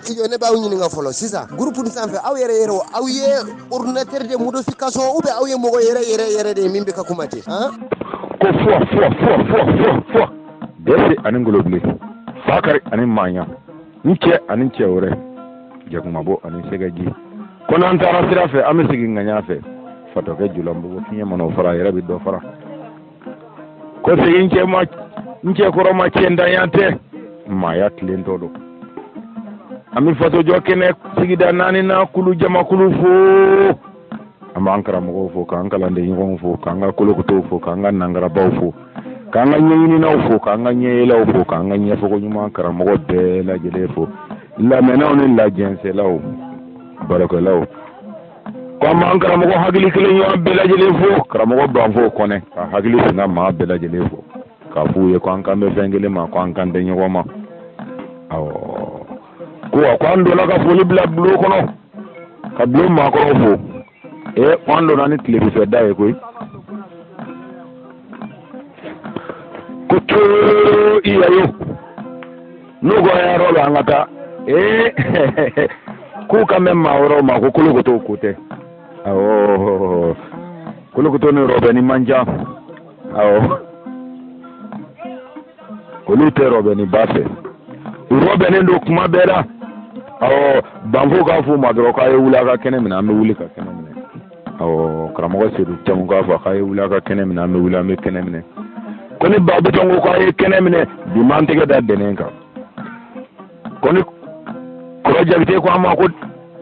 studio ne b'aw ɲininka fɔlɔ sisan gurupu nin sanfɛ aw yɛrɛ yɛrɛ aw ye ordinateur de modification ou bien aw ye mɔgɔ yɛrɛ yɛrɛ yɛrɛ de ye min bɛ ka kuma ten ko fɔ fɔ fɔ fɔ fɔ fɔ dɛsɛ ani ngolobile fakari ani maɲa ni cɛ ani cɛ wɛrɛ jakumabo ani sɛgɛji ko n'an taara sira fɛ an bɛ segin ŋaɲa fɛ fatɔkɛ julanbugu fiɲɛ mana o fara a yɛrɛ bɛ dɔ fara ko sigi n cɛ ma n cɛ kɔrɔ ma cɛntanya tɛ maaya tilen tɔ don an bɛ fatɔjɔ kɛnɛ sigida naani na kulu jamakulu fo an b'an karamɔgɔw fo k'an kalanden ɲɔgɔnw fo k'an ka kolokotow fo k'an ka nangarabaw fo k'an ka ɲɛɲininaw fo k'an ka ɲɛyelaw fo k'an ka ɲɛfɔko ɲuman karamɔgɔ bɛɛ lajɛlen fo lamɛnnaw ni lajɛnsɛlaw baarakɛlaw Ko an b'an karamɔgɔ hakili kelen ɲɔgɔn bɛɛ lajɛlen fo karamɔgɔ banfo kɔnɛ ka hakili sina maa bɛɛ lajɛlen fo k'a f'u ye ko an kan bɛ fɛn kelen ma ko an kan tɛ ɲɔgɔn ma awɔ ko a ko an donna ka foli bila bulon kɔnɔ ka bulon maakɔrɔw fo ee ko an donna ni tilebin fɛ da ye koyi ko too i yayo n'u ko a y'a rɔbɛn an ka taa ee k'u kan bɛ maa wɛrɛw ma ko kolokoto ko tɛ awɔ kolokoto ni rɔbɛni man jan awɔ olu tɛ rɔbɛni ba fɛ u rɔbɛnnen don kuma bɛɛ la awɔ banfo k'a f'u ma dɔrɔn k'a ye wuli a ka kɛnɛ minɛ an bɛ wuli ka kɛnɛ minɛ Ɔ karamɔgɔ seyidu tamu k'a fɔ a ye wuli a ka kɛnɛ minɛ an bɛ wuli an bɛ kɛnɛ minɛ ko ni ba bitɔn ko' a ye kɛnɛ minɛ bi ma an tɛgɛ da dɛnɛ kan ko ni kɔrɔ jakite ko a ma ko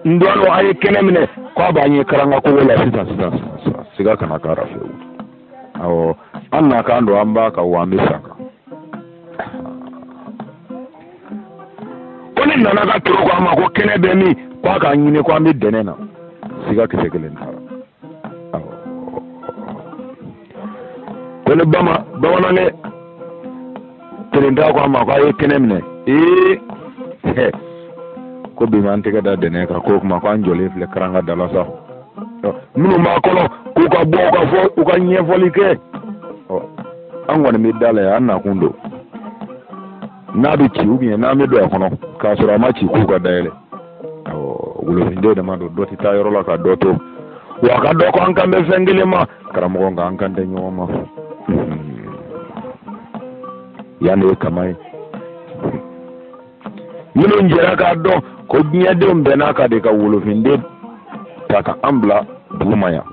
n dɔgɔ a ye kɛnɛ minɛ k' a b'an ye karanga kogo la sisan sisan siga kana k'a la fewu ɔ an nakan don an b'a kan wa an bɛ sa a kan ko ni nana ka toro ko a ma ko kɛnɛ bɛ min ko a k'a ɲini ko an bɛ dɛnɛ na siga kisɛ kelen t'a la ko ni bama bamanankɛ kelenda ko a ma ko a ye kɛnɛ minɛ ee ko bi ma an tɛgɛ da dɛnɛ kan k'o kuma ko an jɔlen filɛ karanga da la sa minnu b'a kɔnɔ k'u ka bɔ u ka fɔ u ka ɲɛfɔli kɛ an kɔni bɛ da la yan an nakun don n'a bɛ ci u bɛ n'an bɛ don a kɔnɔ k'a sɔrɔ a ma ci k'u ka dayɛlɛ wolofinden dama don dɔ tɛ taa yɔrɔ la ka dɔ to wa a ka dɔ ko an kan bɛ fɛn kelen ma karamɔgɔ nka an kan tɛ ɲɔgɔn ma yanni kama ye minnu jɛra k'a dɔn ko diɲɛdenw bɛɛ n'a ka de ka wolofinden ta ka an bila duguma yan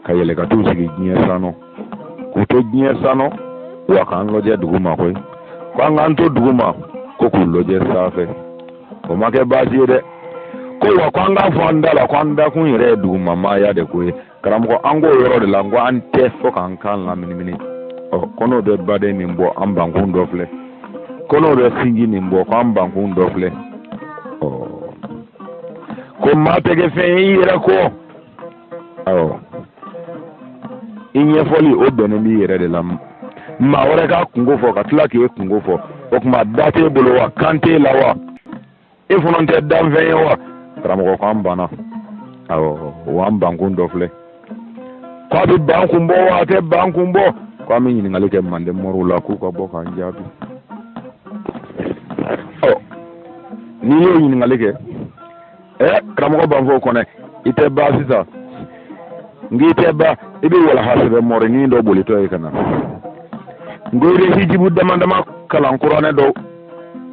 ka yɛlɛ ka t'u sigi diɲɛ sanɔn k'u to diɲɛ sanu wa k'an lajɛ duguma koyi ko an k'an to duguma ko k'u lajɛ sanfɛ o ma kɛ baasi ye dɛ ko wa ko an k'a fɔ an da la ko an dakun yɛrɛ ye duguma maaya de ko ye karamɔgɔ an k'o yɔrɔ de la ko an tɛ fo k'an k'an laminimini ɔ ko n'o bɛ baden nin bɔ an bankun dɔ filɛ ko n'o bɛ sinji nin bɔ ko an bankun dɔ filɛ ɔ ko maa tɛ kɛ fɛn ye i yɛrɛ kɔ awɔ i ɲɛfɔli o bɛnnen b'i yɛrɛ de la maa wɛrɛ k'a kunko fɔ ka tila k'e kunko fɔ o tuma da t'e bolo wa kan t'e la wa e fana tɛ danfɛn ye wa karamɔgɔ ko an banna awɔ o an bankun dɔ filɛ ko a bɛ bankun bɔ wa a tɛ bankun bɔ ko an bɛ ɲininkali kɛ manden mɔriw la k'u ka bɔ k'an jaabi ɔ n'i y'o ɲininkali kɛ ɛ eh, karamɔgɔ b'an fɔ o kɔnɛ i tɛ ban sisan n k'i tɛ ban i bɛ walaha sɛbɛn mɔrinin dɔ bolitɔ ye ka na nko i bɛ hijibu dama dama kalan kuranɛ dɔ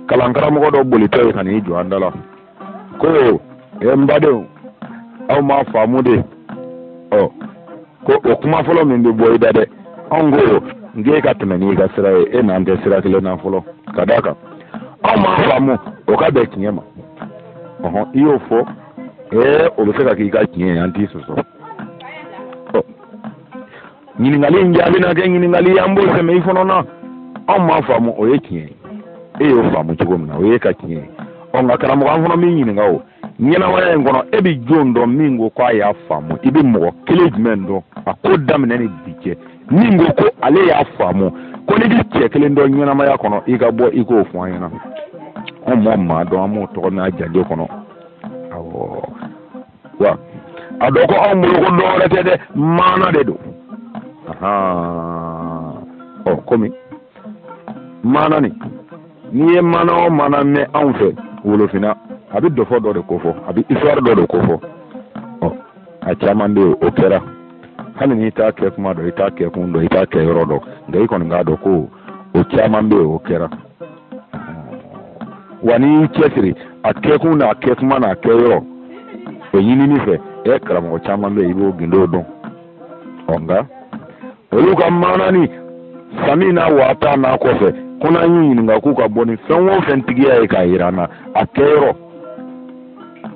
kalan karamɔgɔ dɔ bolitɔ ye ka n'i jɔ an da la ko ɛ eh, n badenw aw m'a faamu dɛ ɔ oh, ko o kuma fɔlɔ min bɛ bɔ i da dɛ anw ko k'e ka tɛmɛ n'i ka sira ye e n'an tɛ sira kelen na fɔlɔ ka d'a kan anw m'a faamu o ka bɛn tiɲɛ ma ɔhɔn i y'o fɔ ee o bɛ se ka k'i ka tiɲɛ ye an t'i sɔsɔ ɔ ɲininkali in jaabi na kɛ ɲininkali ye an b'o sɛmɛ i fana na anw m'a faamu o ye tiɲɛ ye e y'o faamu cogo min na o y'e ka tiɲɛ ye ɔ nka karamɔgɔ an fana b'i ɲininka o ɲɛnamaya in kɔnɔ e bɛ jɔn dɔn min ko k'a y'a faamu i bɛ mɔgɔ kelen jumɛn dɔn a ko daminɛ ni bi cɛ min ko ko ale y'a faamu ko n'i bɛ cɛ kelen dɔn ɲɛnamaya kɔnɔ i ka bɔ i k'o fɔ an ɲɛna anw ma maa dɔn an b'o tɔgɔ mɛn janjo kɔnɔ awɔ wa a dɔn ko anw bolo ko dɔwɛrɛ tɛ dɛ maana de don ɔ komi maana nin n'i ye maana o maana mɛn anw fɛ wolofinna a bɛ dɔfɔ dɔ de ko fɔ a bɛ histoire dɔ de ko fɔ a caman bɛ yen o kɛra hali n'i t'a kɛ kuma dɔn i t'a kɛ kun dɔn i t'a kɛ yɔrɔ dɔn nka i kɔni k'a dɔn ko o caman bɛ yen o kɛra wa n'i y'i cɛsiri a kɛkun n'a kɛ kuma n'a kɛ yɔrɔ o ɲinini fɛ ɛ karamɔgɔ caman bɛ yen i b'o gindo dɔn ɔ nka olu ka maanani sami n'a waata n'a kɔfɛ ko n'an y'u ɲininka k'u ka bɔ ni fɛn o fɛn tigiya ye k'a yira an na a kɛyɔrɔ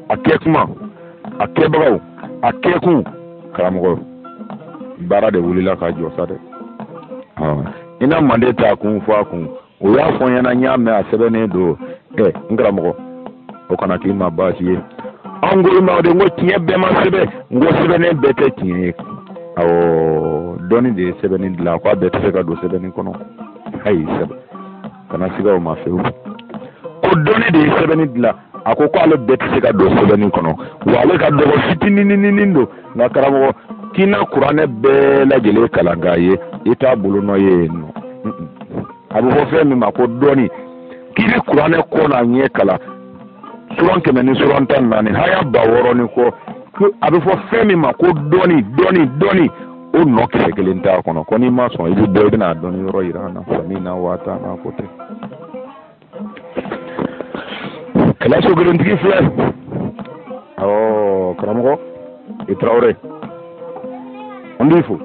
a kɛ kuma a kɛbagaw a kɛkun karamɔgɔ baara de wulila ka jɔ sa dɛ i na manden ta kun fɔ a kun o y'a fɔ n ɲɛna n y'a mɛn a sɛbɛnnen don ɛ n karamɔgɔ o kana k'i ma baasi ye an ko i ma o de n ko tiɲɛ bɛɛ ma sɛbɛn n ko sɛbɛnnen bɛɛ tɛ tiɲɛ ye awɔ dɔnni de ye sɛbɛnni dilan ko a bɛɛ tɛ se ka don sɛbɛnni kɔnɔ ayi sɛbɛn kana siga o ma fewu ko dɔnni de ye sɛbɛnni dilan a ko ko ale bɛɛ tɛ se ka don sɛbɛnni kɔnɔ wa ale ka dɔgɔ fitinininin don nka karamɔgɔ k'i na kuranɛ bɛɛ lajɛlen kalan k'a ye i t'a bolo nɔ ye yen nɔ a bɛ fɔ fɛn min ma ko dɔnni k'i bɛ kuranɛ kɔ n'a ɲɛ kalan suran kɛmɛ ni suran tan ni naani haya ba wɔɔrɔ ni kɔ a bɛ fɔ fɛn min ma ko dɔnni dɔnni dɔnni o nɔ kisɛ kelen t'a kɔnɔ ko n'i ma sɔn i bɛ bɔ i bɛna dɔnni yɔrɔ yira an na samina wa atana ko tɛ kɛlɛ so kelentigi filɛ awɔ karamɔgɔ i tarawele an b'i fo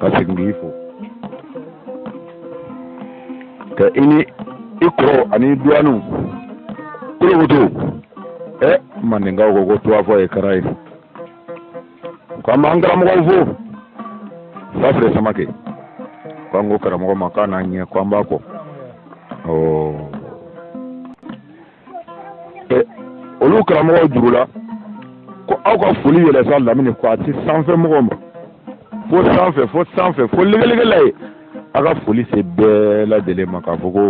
ka segin k'i fo ka i ni i kɔrɔ ani duwaniw kolokoto ɛ mandenkaw ko ko tuwafɔ ye kara ye k'an b'an karamɔgɔw fo safire samakɛ k'an ko karamɔgɔ ma k'a n'an ɲɛ k'an b'a kɔ olu karamɔgɔw juru la ko aw ka foli yɛlɛ sa lamini k'a se sanfɛ mɔgɔw ma fo sanfɛ fo sanfɛ fo legelege la yen a ka foli se bɛɛ lajɛlen ma k'a fɔ ko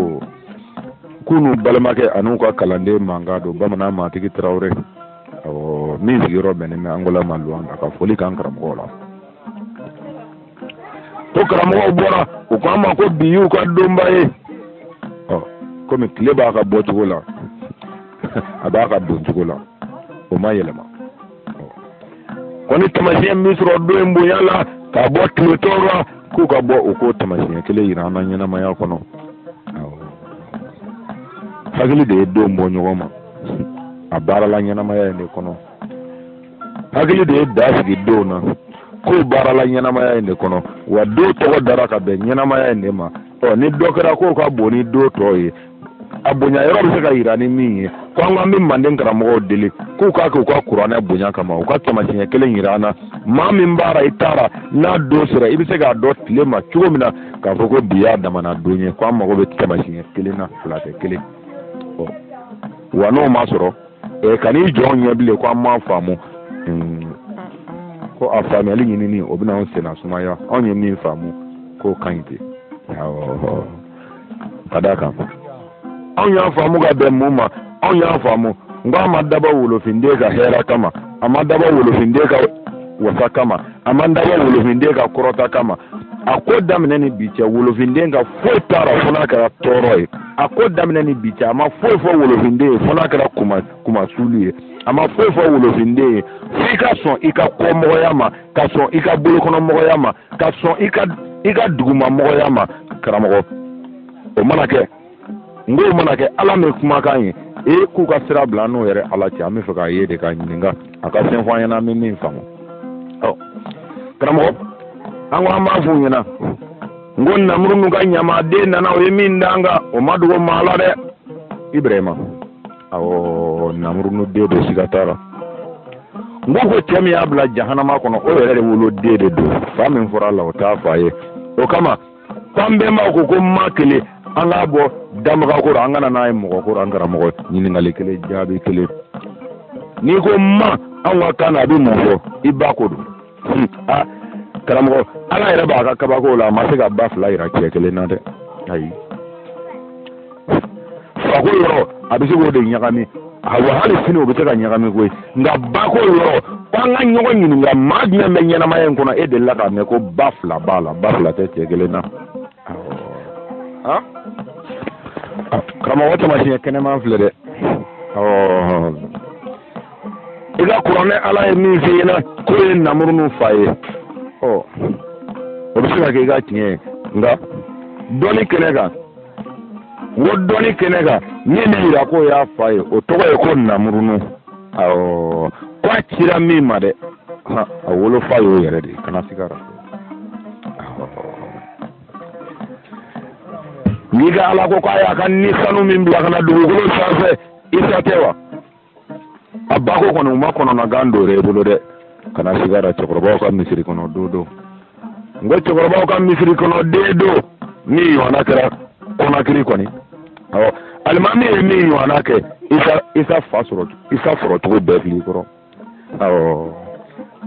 k'u n'u balimakɛ an'u ka kalanden mankan don bamanan matigi tarawele min sigiyɔrɔ bɛnnen bɛ angola ma luwanda ka foli k'an karamɔgɔw la ko karamɔgɔw bɔra u ko an ma ko bi y'u ka donba ye komi tile b'a ka bɔcogo la a b'a ka doncogo la o ma yɛlɛma ko ni tamasiyɛn min sɔrɔ don in bonya la ka bɔ tile tɔw la k'u ka bɔ u k'o tamasiyɛn kelen yira an na ɲɛnamaya kɔnɔ hakili de ye don bɔ ɲɔgɔn ma a baarala ɲɛnamaya in de kɔnɔ hakili de ye da sigi donw na k'o baarala ɲɛnamaya in de kɔnɔ wa don tɔgɔ dara ka bɛn ɲɛnamaya in de ma ɔ ni dɔ kɛra k'o ka bon ni don tɔw ye a bonya yɔrɔ bɛ se ka yira ni min ye ko an k'an bɛ manden karamɔgɔw deli k'u k'a kɛ u ka kuranɛ bonya kama u ka tamasiyɛn kelen yira an na maa min baara i taara n'a don sera i bɛ se k'a dɔn tile ma cogo min na k'a fɔ ko bi y'a damana don ye ko an mago bɛ tamasiyɛn kelen na fila tɛ kelen wa n'o ma sɔrɔ ɛ kan'i jɔ an ɲɛ bilen ko an m'a faamu ko a faamuyali ɲinini o bɛna anw senna sumaya anw ye min faamu k'o ka ɲi ten ka d'a kan anw y'a faamu ka bɛn mun ma anw y'a faamu n ko a ma dabɔ wolofinden ka hɛrɛ kama a ma dabɔ wolofinden ka wasa kama a ma dabɔ wolofinden ka kɔrɔta kama a ko daminɛ ni bi cɛ wolofinden ka foyi t'a rɔ fo n'a kɛra tɔɔrɔ ye a ko daminɛ ni bi cɛ a ma foyi fɔ wolofinden ye fo n'a kɛra kunma kunmasuli ye a ma foyi fɔ wolofinden ye f'i ka sɔn i ka kɔmɔgɔya ma ka sɔn i ka bolokɔnɔmɔgɔya ma ka sɔn i ka i ka dugumamɔgɔya ma karamɔgɔ o mana kɛ n k'o mana kɛ ala min kumakan ye e k'u ka sira bila n'o yɛrɛ ala cɛ an bɛ fɛ k'a ye de k'a ɲininka a ka fɛn fɔ an ɲɛna an bɛ min faamu ɔ karamɔgɔ an ko an b'a f'u ɲɛna n ko namurunu ka ɲamaden nana o ye min da an kan o ma dogo maa la dɛ ibirahima awɔ namurunu den don siga t'a la n ko ko cɛ min y'a bila jahanama kɔnɔ o yɛrɛ de woloden de don fa min fɔra a la o t'a fa ye o kama k'an bɛnbaw ko ko ma kelen an k'a bɔ dabaga kɔrɔ an kana n'a ye mɔgɔ kɔrɔ an karamɔgɔ ɲininkali kelen jaabi kelen n'i ko ma anw ka kan na a bɛ mun fɔ i ba ko don hmm, a karamɔgɔ ala yɛrɛ b'a ka kabako la a ma se ka ba fila yira cɛ kelen na dɛ ayi fako yɔrɔ a bɛ se k'o de ɲagami awa hali sini o bɛ se ka ɲagami koyi nka bako yɔrɔ k'an ka ɲɔgɔn ɲininka maa jumɛn bɛ ɲɛnamaya in kɔnɔ e delila k'a mɛn ko ba fila b'a la ba fila tɛ cɛ kelen na karamɔgɔ tamasiɲɛ kɛnɛman filɛ dɛ i ka kuranɛ ala ye min f'i ɲɛna k'o ye namurunu fa ye o bɛ se ka kɛ i ka tiɲɛ ye nka dɔnni kɛnɛ kan o dɔnni kɛnɛ kan min bɛ yira k'o y'a fa ye o tɔgɔ ye ko namurunu awɔ ko a cira min ma dɛ a wolofa y'o yɛrɛ de ye kana siga a la n'i ka ala ko k'a y'a ka ni sanu min bila ka na dugukolo sanfɛ isa tɛ wa a ba ko kɔni o ma kɔnɔnagan don i bolo dɛ kana siga a ra cɛkɔrɔbaw ka misiri kɔnɔ don don n ko cɛkɔrɔbaw ka misiri kɔnɔ den don min ɲɔgɔnna kɛra kɔnakiri kɔni awɔ alimami ye min ɲɔgɔnna kɛ isa isa fa sɔrɔ isa sɔrɔ cogo bɛɛ fili kɔrɔ awɔ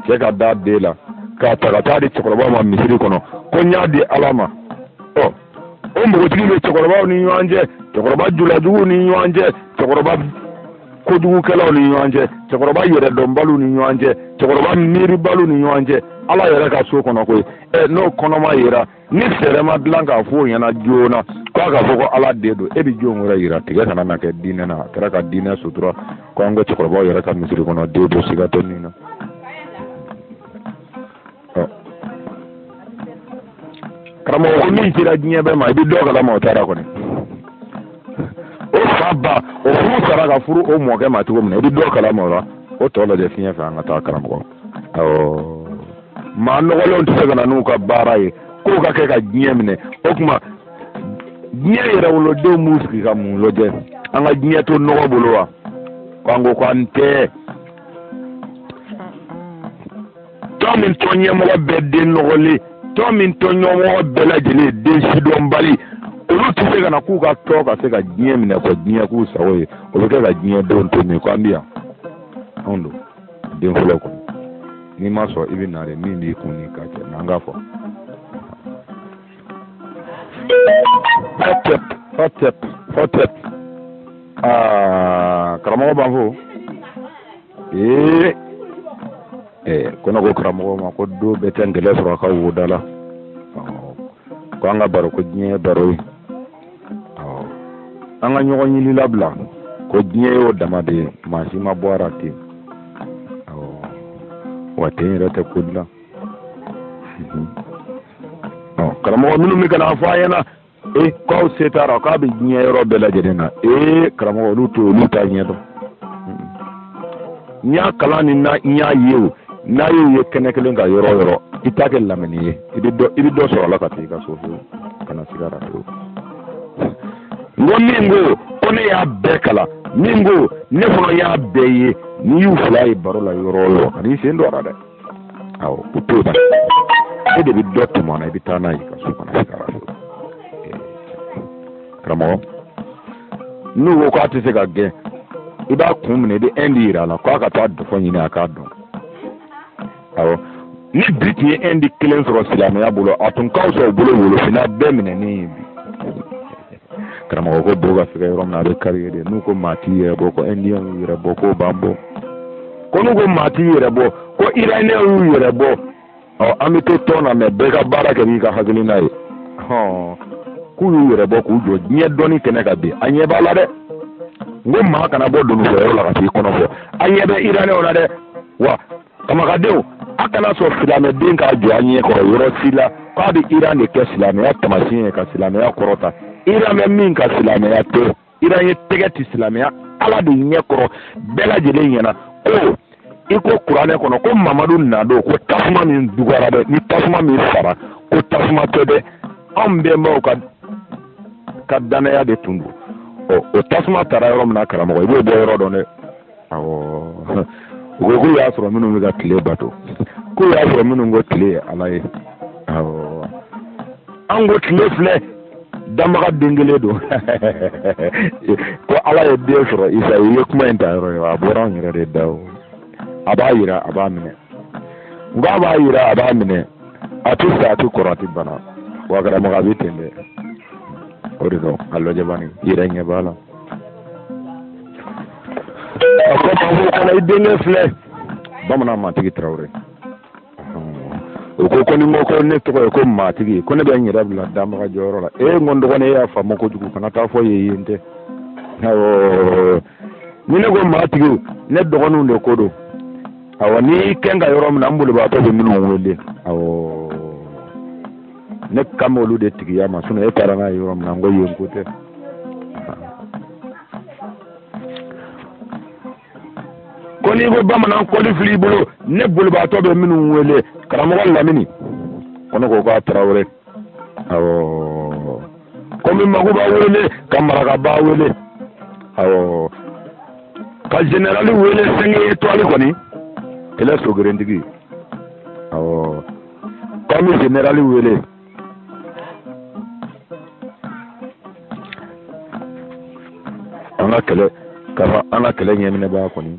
cɛ ka da den la k'a ta ka taa di cɛkɔrɔbaw ma misiri kɔnɔ ko n y'a di ala ma ɔ o npogotigi bɛ cɛkɔrɔbaw ni ɲɔgɔn cɛ cɛkɔrɔba julajuguw ni ɲɔgɔn cɛ cɛkɔrɔba kojugukɛlaw ni ɲɔgɔn cɛ cɛkɔrɔba yɛrɛdɔnbaliw ni ɲɔgɔn cɛ cɛkɔrɔba miiribaliw ni ɲɔgɔn cɛ ala yɛrɛ ka so kɔnɔ koyi ɛ n'o kɔnɔma yera ni fɛɛrɛ ma dilan k'a fɔ o ɲɛna joona k'a ka fɔ ko ala den don e bɛ jɔn wɛrɛ yira tigɛ kana na kɛ diinɛ na a kɛra ka diinɛ sutura ko an ka cɛkɔrɔbaw yɛrɛ ka misiri kɔnɔ den don siga tɛ nin na karamɔgɔ ko min cira diɲɛ bɛɛ ma i bɛ dɔ kalama o taara kɔni o fa ba o furu sara ka furu o mɔkɛ ma cogo min na i bɛ dɔ kalama o la o tɔ lajɛ fiɲɛ fɛ an ka taa karamɔgɔ awɔ maa nɔgɔlenw tɛ se ka na n'u ka baara ye k'o ka kɛ ka diɲɛ minɛ o tuma diɲɛ yɛrɛwolodenw b'u sigi ka mun lajɛ an ka diɲɛ to nɔgɔ bolo wa k'an ko k'an tɛ tɔn min tɔn ɲɛmɔgɔ bɛɛ den nɔgɔlen tɔn min tɔn ɲɛmɔgɔ bɛɛ lajɛlen den sidɔnbali olu tɛ se ka na k'u ka tɔn ka se ka diɲɛ minɛ ka diɲɛ k'u sago ye o bɛ kɛ ka diɲɛ denw to min ko an bɛ yan anw don den fɔlɔ kɔni n'i ma sɔn i bɛ na de min b'i kun ni ka cɛ n'an k'a fɔ. Hotep, hotep, hotep. Aa, karamɔgɔ b'an fo. ee ee ko ne ko karamɔgɔ ma ko don bɛɛ tɛ ngɛlɛn sɔrɔ a ka wo da la ko an ka baro ko diɲɛ ye baro ye an ka ɲɔgɔn ɲini labila ko diɲɛ y'o dama de ye maa si ma bɔ a la ten wa ten yɛrɛ tɛ ko dilan karamɔgɔ minnu bɛ ka n'a fɔ an ɲɛna e k'aw se t'a rɔ k'a bɛ diɲɛ yɔrɔ bɛɛ lajɛlen na ee karamɔgɔ olu to olu t'a ɲɛ dɔn n y'a kalan ni n y'a ye o n'a y'u ye kɛnɛ kelen kan yɔrɔ o yɔrɔ i t'a kɛ lamɛnni ye i bɛ dɔ i bɛ dɔ sɔrɔ a la ka taa i ka so fiyewu kana siga a ra fiyewu n ko min ko ko ne y'a bɛɛ kalan min ko ne fana y'a bɛɛ ye n'i y'u fila ye baro la yɔrɔ o yɔrɔ kan'i sen don a la dɛ awɔ o t'o la e de bɛ dɔ tɔmɔ a la i bɛ taa n'a ye i ka so kana se ka so karamɔgɔ n'u ko k'a tɛ se ka gɛn i b'a kun minɛ i bɛ ɛndi yira a la k'a ka taa dɔfɔ ɲini a k'a dɔn awɔ ni bi tun ye ɛndi kelen sɔrɔ silamɛya bolo a tun ka fisa u bolo wolofinna bɛɛ minɛnen ye bi. karamɔgɔ ko bɔ ka fɛgɛn yɔrɔ min na a bɛ kari yen de n'u ko maa t'i yɛrɛ bɔ ko indiyɛnw y'u yɛrɛ bɔ k'o b'an bɔ ko n'u ko maa t'i yɛrɛ bɔ ko iraniyɛnw y'u yɛrɛ bɔ ɔ an bɛ to tɔn na mɛ bɛɛ ka baara kɛ n'i ka hakilina ye k'u y'u yɛrɛ bɔ k'u jɔ diɲɛ dɔnni kɛnɛ kan bi a ɲɛ b'a la dɛ n ko maa kana bɔ dunufɔyɔrɔ la ka t'i kɔnɔ fɔ a ɲɛ bɛ iraniyɛnw la dɛ wa kama ka denw a kana sɔn silamɛden k'a jɔ a ɲɛ kɔrɔ yɔrɔ si la k'a bɛ iran de kɛ silamɛya tamasiɲɛ ye ka silamɛya kɔrɔta iran bɛ min kan silamɛya tɛ iran ye tɛgɛ ti silamɛya ala de ɲɛ kɔrɔ bɛɛ lajɛlen ɲɛna ko i ko kuranɛ kɔnɔ ko mamadu nadon ko tasuma min dugara dɛ ni tasuma min sara ko tasuma tɛ dɛ anw bɛnbaw ka danaya de tun don ɔ o tasuma tara yɔrɔ min na karamɔgɔ i b'o bɔ yɔrɔ dɔn dɛ awɔ u ko k'u y'a sɔrɔ minnu bɛ ka tile bato k'u y'a sɔrɔ minnu ko tile ye ala ye awɔ an ko tile filɛ danbaga den kelen don ko ala ye den sɔrɔ isa i ye kuma in ta yɔrɔ ye a bɔra anw yɛrɛ de da o a b'a yira a b'a minɛ n ko a b'a yira a b'a minɛ a tɛ sa a tɛ kɔrɔ a tɛ bana wa karamɔgɔ a bɛ ten dɛ o de don a lajɛ bani i yɛrɛ ɲɛ b'a la fana i denkɛ filɛ bamanan matigi tarawele o ko ko ni ne tɔgɔ ye ko matigi ko ne bɛ n yɛrɛ bila danbaga jɔyɔrɔ la ee n ko n dɔgɔnin e y'a faamu kojugu kana taa fo yen yen tɛ awɔ ni ne ko matigi ne dɔgɔninw de ko don awɔ ni kɛn ka yɔrɔ min na n bolibaatɔ bɛ minnu wele awɔ ne kan b'olu de tigiya ma sinɔn e taara n'a ye yɔrɔ min na n ko yen ko tɛ ko n'i ko bamanan kɔli fili i bolo ne bolibaatɔ bɛ minnu wele karamɔgɔ lamini ko ne ko k'a tarawele awɔ ko n bɛ makoba wele ka marakaba wele awɔ ka jenerali wele sɛnki etwali kɔni ele sogerentigi awɔ ko n bɛ jenerali wele an ka kɛlɛ ɲɛminɛbaa kɔni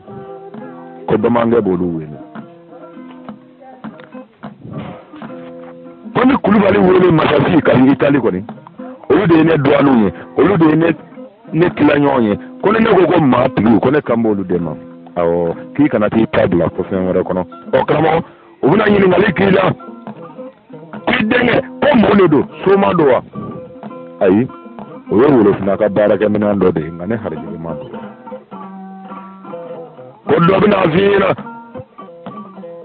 ko domakɛ b'olu wele ko n bɛ kulubali wele masasi ka itali kɔni olu de ye ne dɔgɔninw ye olu de ye ne tilaɲɔgɔn ye ko ni ne ko ko matigi ko ne kan b'olu de ma awɔ k'i kana t'i ta bila ko fɛn wɛrɛ kɔnɔ ɔ karamɔgɔ u bɛna ɲininkali k'i la k'i denkɛ ko mun de don soma don wa ayi o ye wolofina ka baarakɛminɛn dɔ de ye nka ne harijigɛ ma don ko dɔ bɛna f'i ɲɛna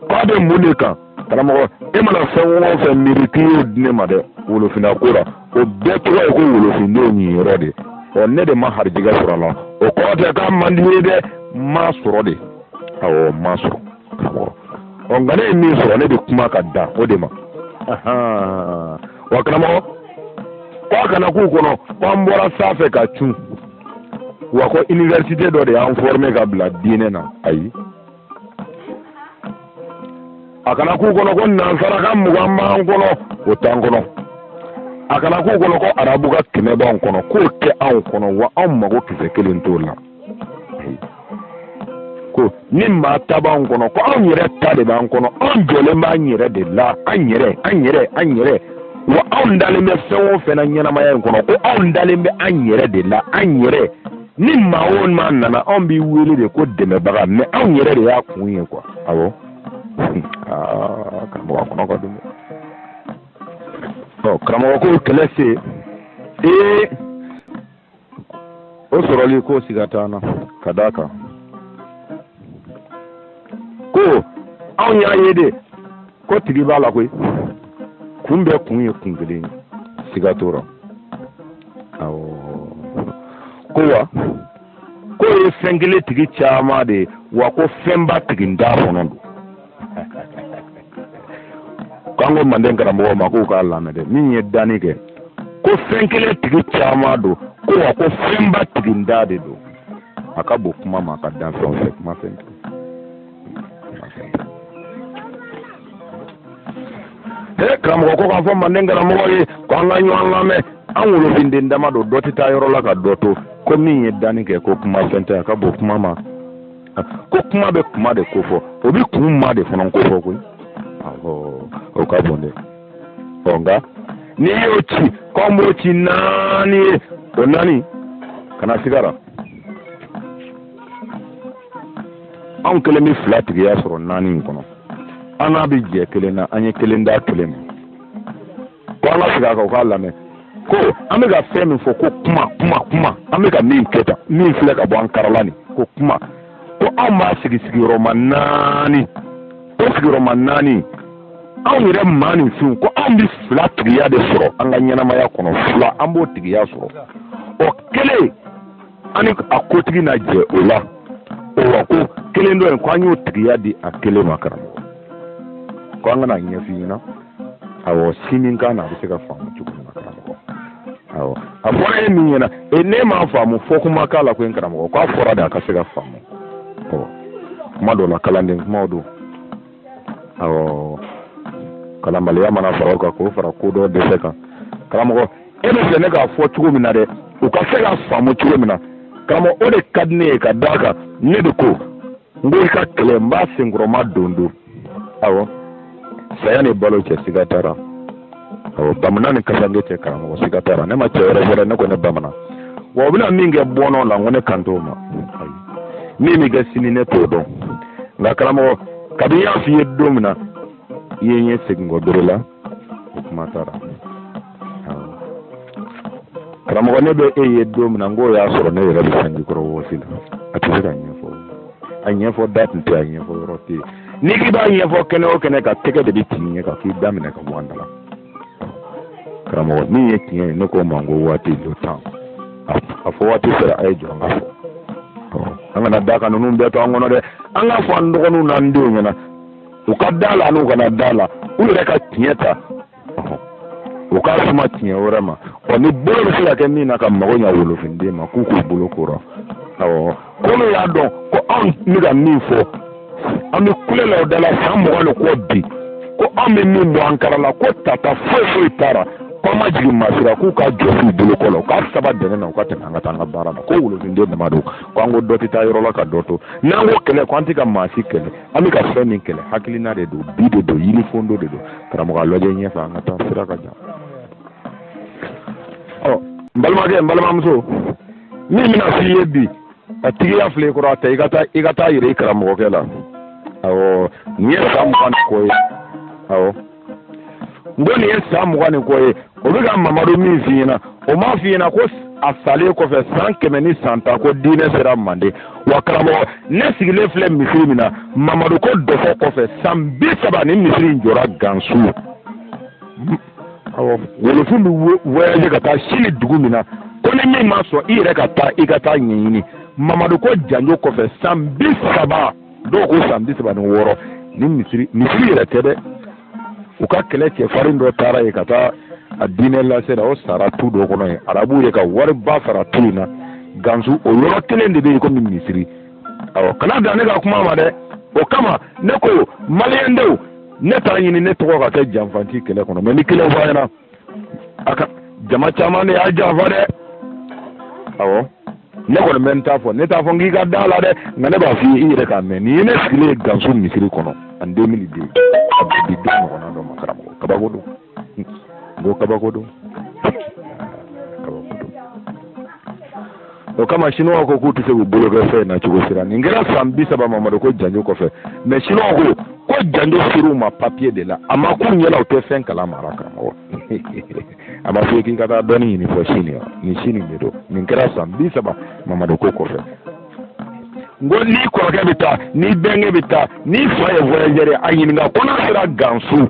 k'a bɛ mun de kan karamɔgɔ e mana fɛn o fɛn miiri k'i y'o di ne ma dɛ wolofina ko la o bɛɛ tɔgɔ ye ko wolofindenw niyɔrɔ de ɔ ne de ma harijigɛ sɔrɔ a la o kɔrɔ tɛ k'a man di n ye dɛ n m'a sɔrɔ de awɔ n m'a sɔrɔ karamɔgɔ ɔ nka ne ye min sɔrɔ ne bɛ kuma ka dan o de ma wa karamɔgɔ ko a kana k'u kɔnɔ ko an bɔra sanfɛ ka cun wa ko iniwerisite dɔ de y'an fɔrime ka bila diinɛ na ayi a kana k'u kɔnɔ ko nansarakan mugan b'an kɔnɔ o t'an kɔnɔ a kana k'u kɔnɔ ko arabukan kɛmɛ b'an kɔnɔ k'o tɛ anw kɔnɔ wa anw mago kisɛ kelen t'o la ko ni maa ta b'an kɔnɔ ko anw yɛrɛ ta de b'an kɔnɔ anw jɔlen b'an yɛrɛ de la an yɛrɛ an yɛrɛ an yɛrɛ wa anw dalen bɛ fɛn o fɛn na ɲɛnamaya in kɔnɔ ko anw dalen bɛ an yɛrɛ de la an yɛrɛ ni maa o maa nana anw b'i wele de ko dɛmɛbaga mɛ anw yɛrɛ de y'a kun ye kuwa awɔ karamɔgɔ a kɔnɔ ka dun ɔ karamɔgɔ ko kɛlɛ se ee o sɔrɔli k'o siga t'an na ka d'a kan ko anw y'a ye de ko tigi b'a la koyi kun bɛɛ kun ye kun kelen ye siga t'o rɔ awɔ ko wa k'o ye fɛn kelen tigi caman de ye wa ko fɛnba tigintan fana don k'an ko manden karamɔgɔ ma k'u k'a lamɛn dɛ min ye danni kɛ ko fɛn kelen tigi caman don ko wa ko fɛnba tigintan de don a ka bon kuma ma a ka danfɛn fɛ kuma fɛn tɛ ee karamɔgɔ ko k'a fɔ manden karamɔgɔ ye ko an ka ɲɔgɔn lamɛn an wolofinden dama don dɔ tɛ taa yɔrɔ la ka dɔ to ko min ye danni kɛ ko kuma fɛn tɛ a ka bon kuma ma ko kuma bɛ kuma de kofɔ o bɛ kun ma de fana kofɔ koyi o ka bon dɛ ɔ nka n'i y'o ci k'an b'o ci naani ye o naani kana siga a ra anw kelen bɛ fila tigiya sɔrɔ naani in kɔnɔ an n'a bɛ jɛ kelen na an ye kelen d'a kelen ma ko an ka segin a kan u k'a lamɛn ko an bɛ ka fɛn min fɔ ko kuma kuma kuma an bɛ ka min kɛ tan min filɛ ka bɔ an karala nin ko kuma ko anw b'a sigi sigiyɔrɔma naani o sigiyɔrɔma naani anw yɛrɛ maaninfinw ko anw bɛ fila tigiya de sɔrɔ an ka ɲɛnamaya kɔnɔ fila an b'o tigiya sɔrɔ o kelen ani a kotigi na jɛ o la o wa ko kelen dɔ in ko an y'o tigiya di a kelen ma karamɔgɔ ko an ka n'a ɲɛf'i ɲɛna awɔ si min kan na a bɛ se ka faamu cogo min na karamɔgɔ awɔ a fɔra e min ɲɛna e ne m'a faamu fɔ kuma k'a la ko n karamɔgɔ k'a fɔra de a ka se ka faamu ɔ kuma dɔ la kalanden kumaw don awɔ kalanbaliya mana fara o kan k'o fara kodɔn dɛsɛ kan karamɔgɔ e b'a fɛ ne k'a fɔ cogo min na dɛ u ka se k'a faamu cogo min na karamɔgɔ o de ka di ne ye ka d'a kan ne de ko n ko i ka kɛlɛ n b'a senkɔrɔma don don awɔ saya ni balo cɛ siga t'a la bamanan ni kasanke cɛ karamɔgɔ siga t'a la ne ma cɛ wɛrɛ wele ne ko ne bamanan wa o bɛna min kɛ bɔnɔ la n ko ne kan t'o ma min bɛ kɛ sini ne t'o dɔn nka karamɔgɔ kabi n y'a f'i ye don min na i ye n ye segin kɔ bere la o kuma taara karamɔgɔ ne bɛ e ye don min na n k'o y'a sɔrɔ ne yɛrɛ bɛ sanji kɔrɔ wɔsi la a tɛ se ka ɲɛfɔ a ɲɛfɔ da tun tɛ a ɲɛfɔ yɔrɔ tɛ yen n'i k'i b'a ɲɛfɔ kɛnɛ o kɛnɛ kan tɛgɛ de bɛ ti i ɲɛ kan k'i da minɛ ka bɔ an da la karamɔgɔ min ye tiɲɛ ye ne k'o ma ko waati le temps a fɔ waati sera a ye jɔ an k'a fɔ an kana da ka ninnu bɛɛ to an kɔnɔ dɛ an k'a fɔ an dɔgɔninw n'an denw ɲɛna u ka da la n'u kana da la u yɛrɛ ka tiɲɛ ta u k'a suma tiɲɛ wɛrɛ ma ɔ ni bolo bɛ se ka kɛ min na ka mago ɲa wolofinden ma k'u k'u bolo k'o la awɔ ko n'u y'a dɔn ko anw bɛ ka min fɔ an bɛ kule la o da la san mugan ni kɔ bi ko anw bɛ min bɔ an kala la ko tata foyi foyi t'a la ko an ma jigin maa si la k'u k'a jɔsi u bolo kɔ la u k'a saba dɛnɛn na u ka tɛmɛ an ka taa an ka baara la ko wolofinden dama don ko an ko dɔ tɛ taa yɔrɔ la ka dɔ to n'an ko kɛlɛ ko an tɛ ka maa si kɛlɛ an bɛ ka fɛn min kɛlɛ hakilina de don bi de don yirifondo de don karamɔgɔ a lajɛ ɲɛfɛ an ka taa sira ka jan ɔ n balimakɛ n balimamuso min bɛna f'i ye bi a tigiya filɛ i kɔrɔ a ta i ka taa i ka taa a yira i karamɔgɔkɛ la awɔ nin ye san mugan ni kɔ ye awɔ n ko nin ye san mugan ni kɔ ye o bɛ ka mamadu min f'i ɲɛna o m'a f'i ɲɛna ko a salen kɔfɛ san kɛmɛ ni san tan ko diinɛ sera manden wa karamɔgɔ ne sigilen filɛ misiri min na mamadu ko dɔfɔ kɔfɛ san bi saba nin misiri in jɔra gansu wolofin bɛ voyage ka taa sini dugu min na ko ni min ma sɔn i yɛrɛ ka taa i ka taa ɲɛɲini mamadu ko janjo kɔfɛ san bi saba dɔw ko san bi saba ni wɔɔrɔ nin misiri misiri yɛrɛ tɛ dɛ u ka kɛlɛ cɛfarin dɔ taara yen ka taa a diinɛ lase la o sara tu dɔ kɔnɔ yen arabu ye ka wariba sara tu in na gansu o yɔrɔ kelen de bɛ yen komi misiri awɔ kana dan ne ka kuma ma dɛ o kama ne ko maliyɛndenw ne t'a ɲini ne tɔgɔ ka kɛ janfanti kɛlɛ kɔnɔ mɛ nin kelen fɔ a ɲɛna jama caman de y'a janfa dɛ awɔ ne kɔni bɛ n ta fɔ ne t'a fɔ n k'i ka da la dɛ nka ne b'a f'i ye i yɛrɛ k'a mɛn nin ye ne sigilen ye gansu misiri kɔnɔ en deux mille deux a bɛ di don ɲɔgɔnna dɔ ma karamɔgɔ kabako don n ko kabako don kabako don o kama siniwaw ko k'u tɛ se k'u bolo kɛ fɛn na cogo sira nin kɛra san bi saba mamadu ko janjo kɔfɛ mɛ siniwaw ko ko janjo sir'u ma papiye de la a ma k'u ɲɛna u tɛ fɛn kala mara karamɔgɔ a ma fɔ k'i ka taa dɔnni ɲini fɔ sini wa nin sini de don nin kɛra san bi saba mamadu ko kɔfɛ n ko n'i kɔrɔkɛ bɛ taa n'i bɛnkɛ bɛ taa n'i fa ye voyageur ye a ɲininka ko n'a sera gansu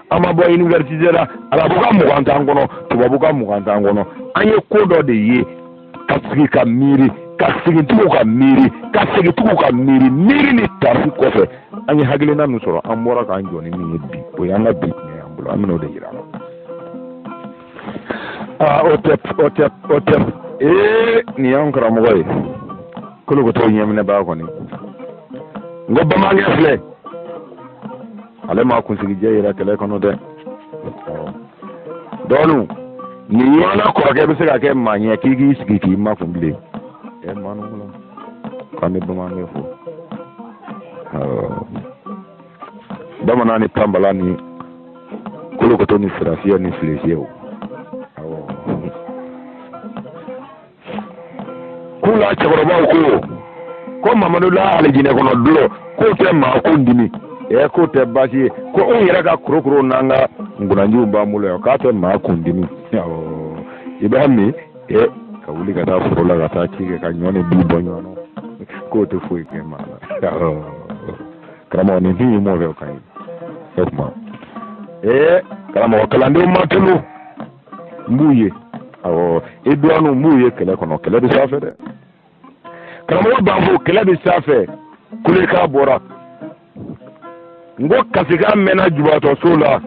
an ma bɔ université la arabu ka mugan t'an kɔnɔ tubabu ka mugan t'an kɔnɔ an ye ko dɔ de ye ka sigi ka miiri ka segin tugun ka miiri ka segin tugun ka miiri miiri ni taasi kɔfɛ an ye hakilina min sɔrɔ an bɔra k'an jɔ ni min ye bi o y'an ka bi tiɲɛ y'an bolo an bɛn'o de yira la aa o tɛ o tɛ o tɛ ee nin y'an karamɔgɔ ye kolokoto ɲɛminɛbaa kɔni n ko bamanankɛ filɛ ale ma kunsigijɛ yira kɛlɛ kɔnɔ dɛ dɔɔnu nin ɲɔgɔnna kɔrɔkɛ bɛ se ka kɛ maa ɲɛ k'i k'i sigi k'i makun bilen ɛ maa ninnu kɔnɔ k'an bɛ bamanan fo bamanan ni tanbala ni kolokoto ni sirafiyɛ ni filefiyɛw k'u la cɛkɔrɔbaw ko ko mamadu la alijinɛ kɔnɔ dulɔ k'o tɛ maa kun dimi ɛ k'o tɛ baasi ye ko anw yɛrɛ ka korokoro n'an ka nkunanjiw b'an bolo yan k'a tɛ maa kun dimi awɔ i b'a min ɛ ka wuli ka taa foro la ka taa ci kɛ ka ɲɔ ni bin bɔ ɲɔgɔn na k'o tɛ foyi kɛ maa la awɔ karamɔgɔ nin fin ye mɔgɔ fɛ o ka ɲi o tuma ee karamɔgɔ kalandenw ma tunu n b'u ye awɔ i dɔgɔninw n b'u ye kɛlɛ kɔnɔ kɛlɛ bɛ sanfɛ dɛ karamɔgɔ b'a fɔ kɛlɛ bɛ sanfɛ kulekan bɔra n ko kasikan mɛnna jubatɔso la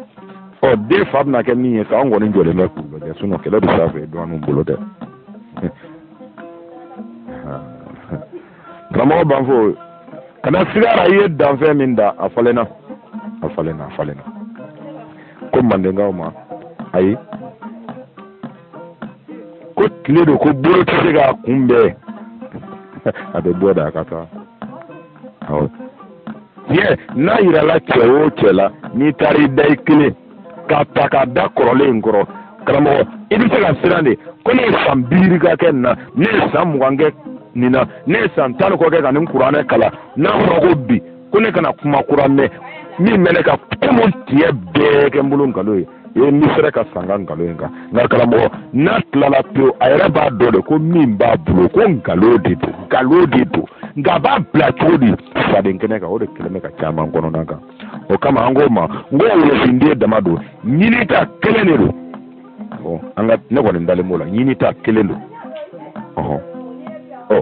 ɔ den fa bɛna kɛ min ye sa an kɔni jɔlen bɛ k'u lajɛ sinɔn kɛlɛ bɛ sanfɛ i dɔgɔninw bolo dɛ karamɔgɔ banfo kana sig'a ra i ye danfɛn min dan a falenna a falenna a falenna ko mandenkaw ma ayi ko tile don ko bolo tɛ se k'a kunbɛn a bɛ bɔ da a ka taa awɔ tiɲɛ n'a yirala cɛ o cɛ la n'i taara i da i kelen k'a ta k'a da kɔrɔlen in kɔrɔ karamɔgɔ i bɛ se ka siran de ko ne ye san biyirika kɛ nin na ne ye san mugan kɛ nin na ne ye san tan ni kɔ kɛ ka nin kuranɛ kalan n'a fɔra ko bi ko ne kana kuma kura mɛn min bɛ ne ka kuma tiɲɛ bɛɛ kɛ n bolo nkalon ye i ye n bɛ fɛrɛ ka sa n ka nkalon in kan nka karamɔgɔ n'a tilala pewu a yɛrɛ b'a dɔn de ko min b'a bolo ko nkalon de don nkalon de don nka a b'a bila cogo di faden kɛnɛ kan o de kɛlen bɛ ka caman kɔnɔna gan o kama an k'o ma n ko wolofinden dama don ɲinita kelen de don ɔ an ka ne kɔni dalen b'o la ɲinita kelen don ɔhɔn ɔ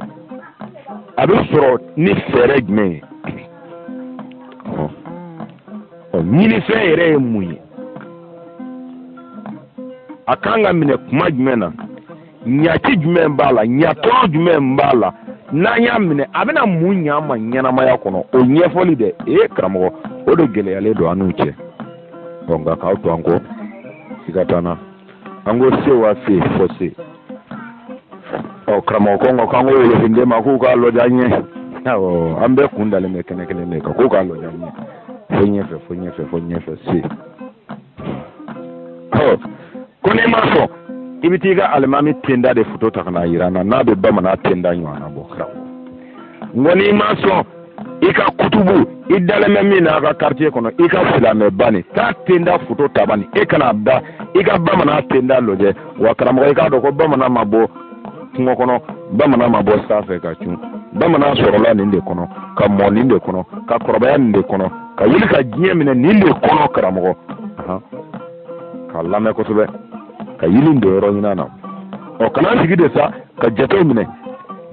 a bɛ sɔrɔ ni fɛɛrɛ jumɛn ye ɔhɔn ɔ ɲinifɛn yɛrɛ ye mun ye a kan ka minɛ kuma jumɛn na ɲaci jumɛn b'a la ɲatɔɔrɔ jumɛn b'a la n'an y'a minɛ a bɛna mun ɲa ma ɲɛnamaya kɔnɔ o ɲɛfɔli dɛ ee karamɔgɔ o de gɛlɛyalen don an n'u cɛ ɔ nka k'aw to an kɔ siga t'an na an ko se wa se fɔ se ɔ karamɔgɔ ko nka k'an ko wolofinden ma k'u k'a lɔja ɲɛ awɔ an bɛɛ kun dalen bɛ kɛnɛ kelen de kan k'u k'a lɔja ɲɛ fo ɲɛfɛ fo ɲɛfɛ fo ɲɛfɛ se ko n'i ma sɔn i bɛ t'i ka alimami tenda de foto ta ka n'a yira n na n'a bɛ bamanan tenda ɲɔgɔnna bɔ karamɔgɔ n ko n'i ma sɔn i ka kutubu i dalen bɛ min na a ka quartier kɔnɔ i ka silamɛba nin ta tenda foto ta bani e ka n'a da i ka bamanan tenda lajɛ wa karamɔgɔ i k'a dɔn ko bamanan ma bɔ kungo kɔnɔ bamanan ma bɔ sanfɛ ka cun bamanan sɔrɔla nin de kɔnɔ ka mɔ nin de kɔnɔ ka kɔrɔbaya nin de kɔnɔ ka wuli ka diɲɛ minɛ nin de kɔnɔ karamɔgɔ k'a lamɛn kosɛbɛ ka yiri in don yɔrɔ ɲinan na ɔ ka na sigi de sa ka jatew minɛ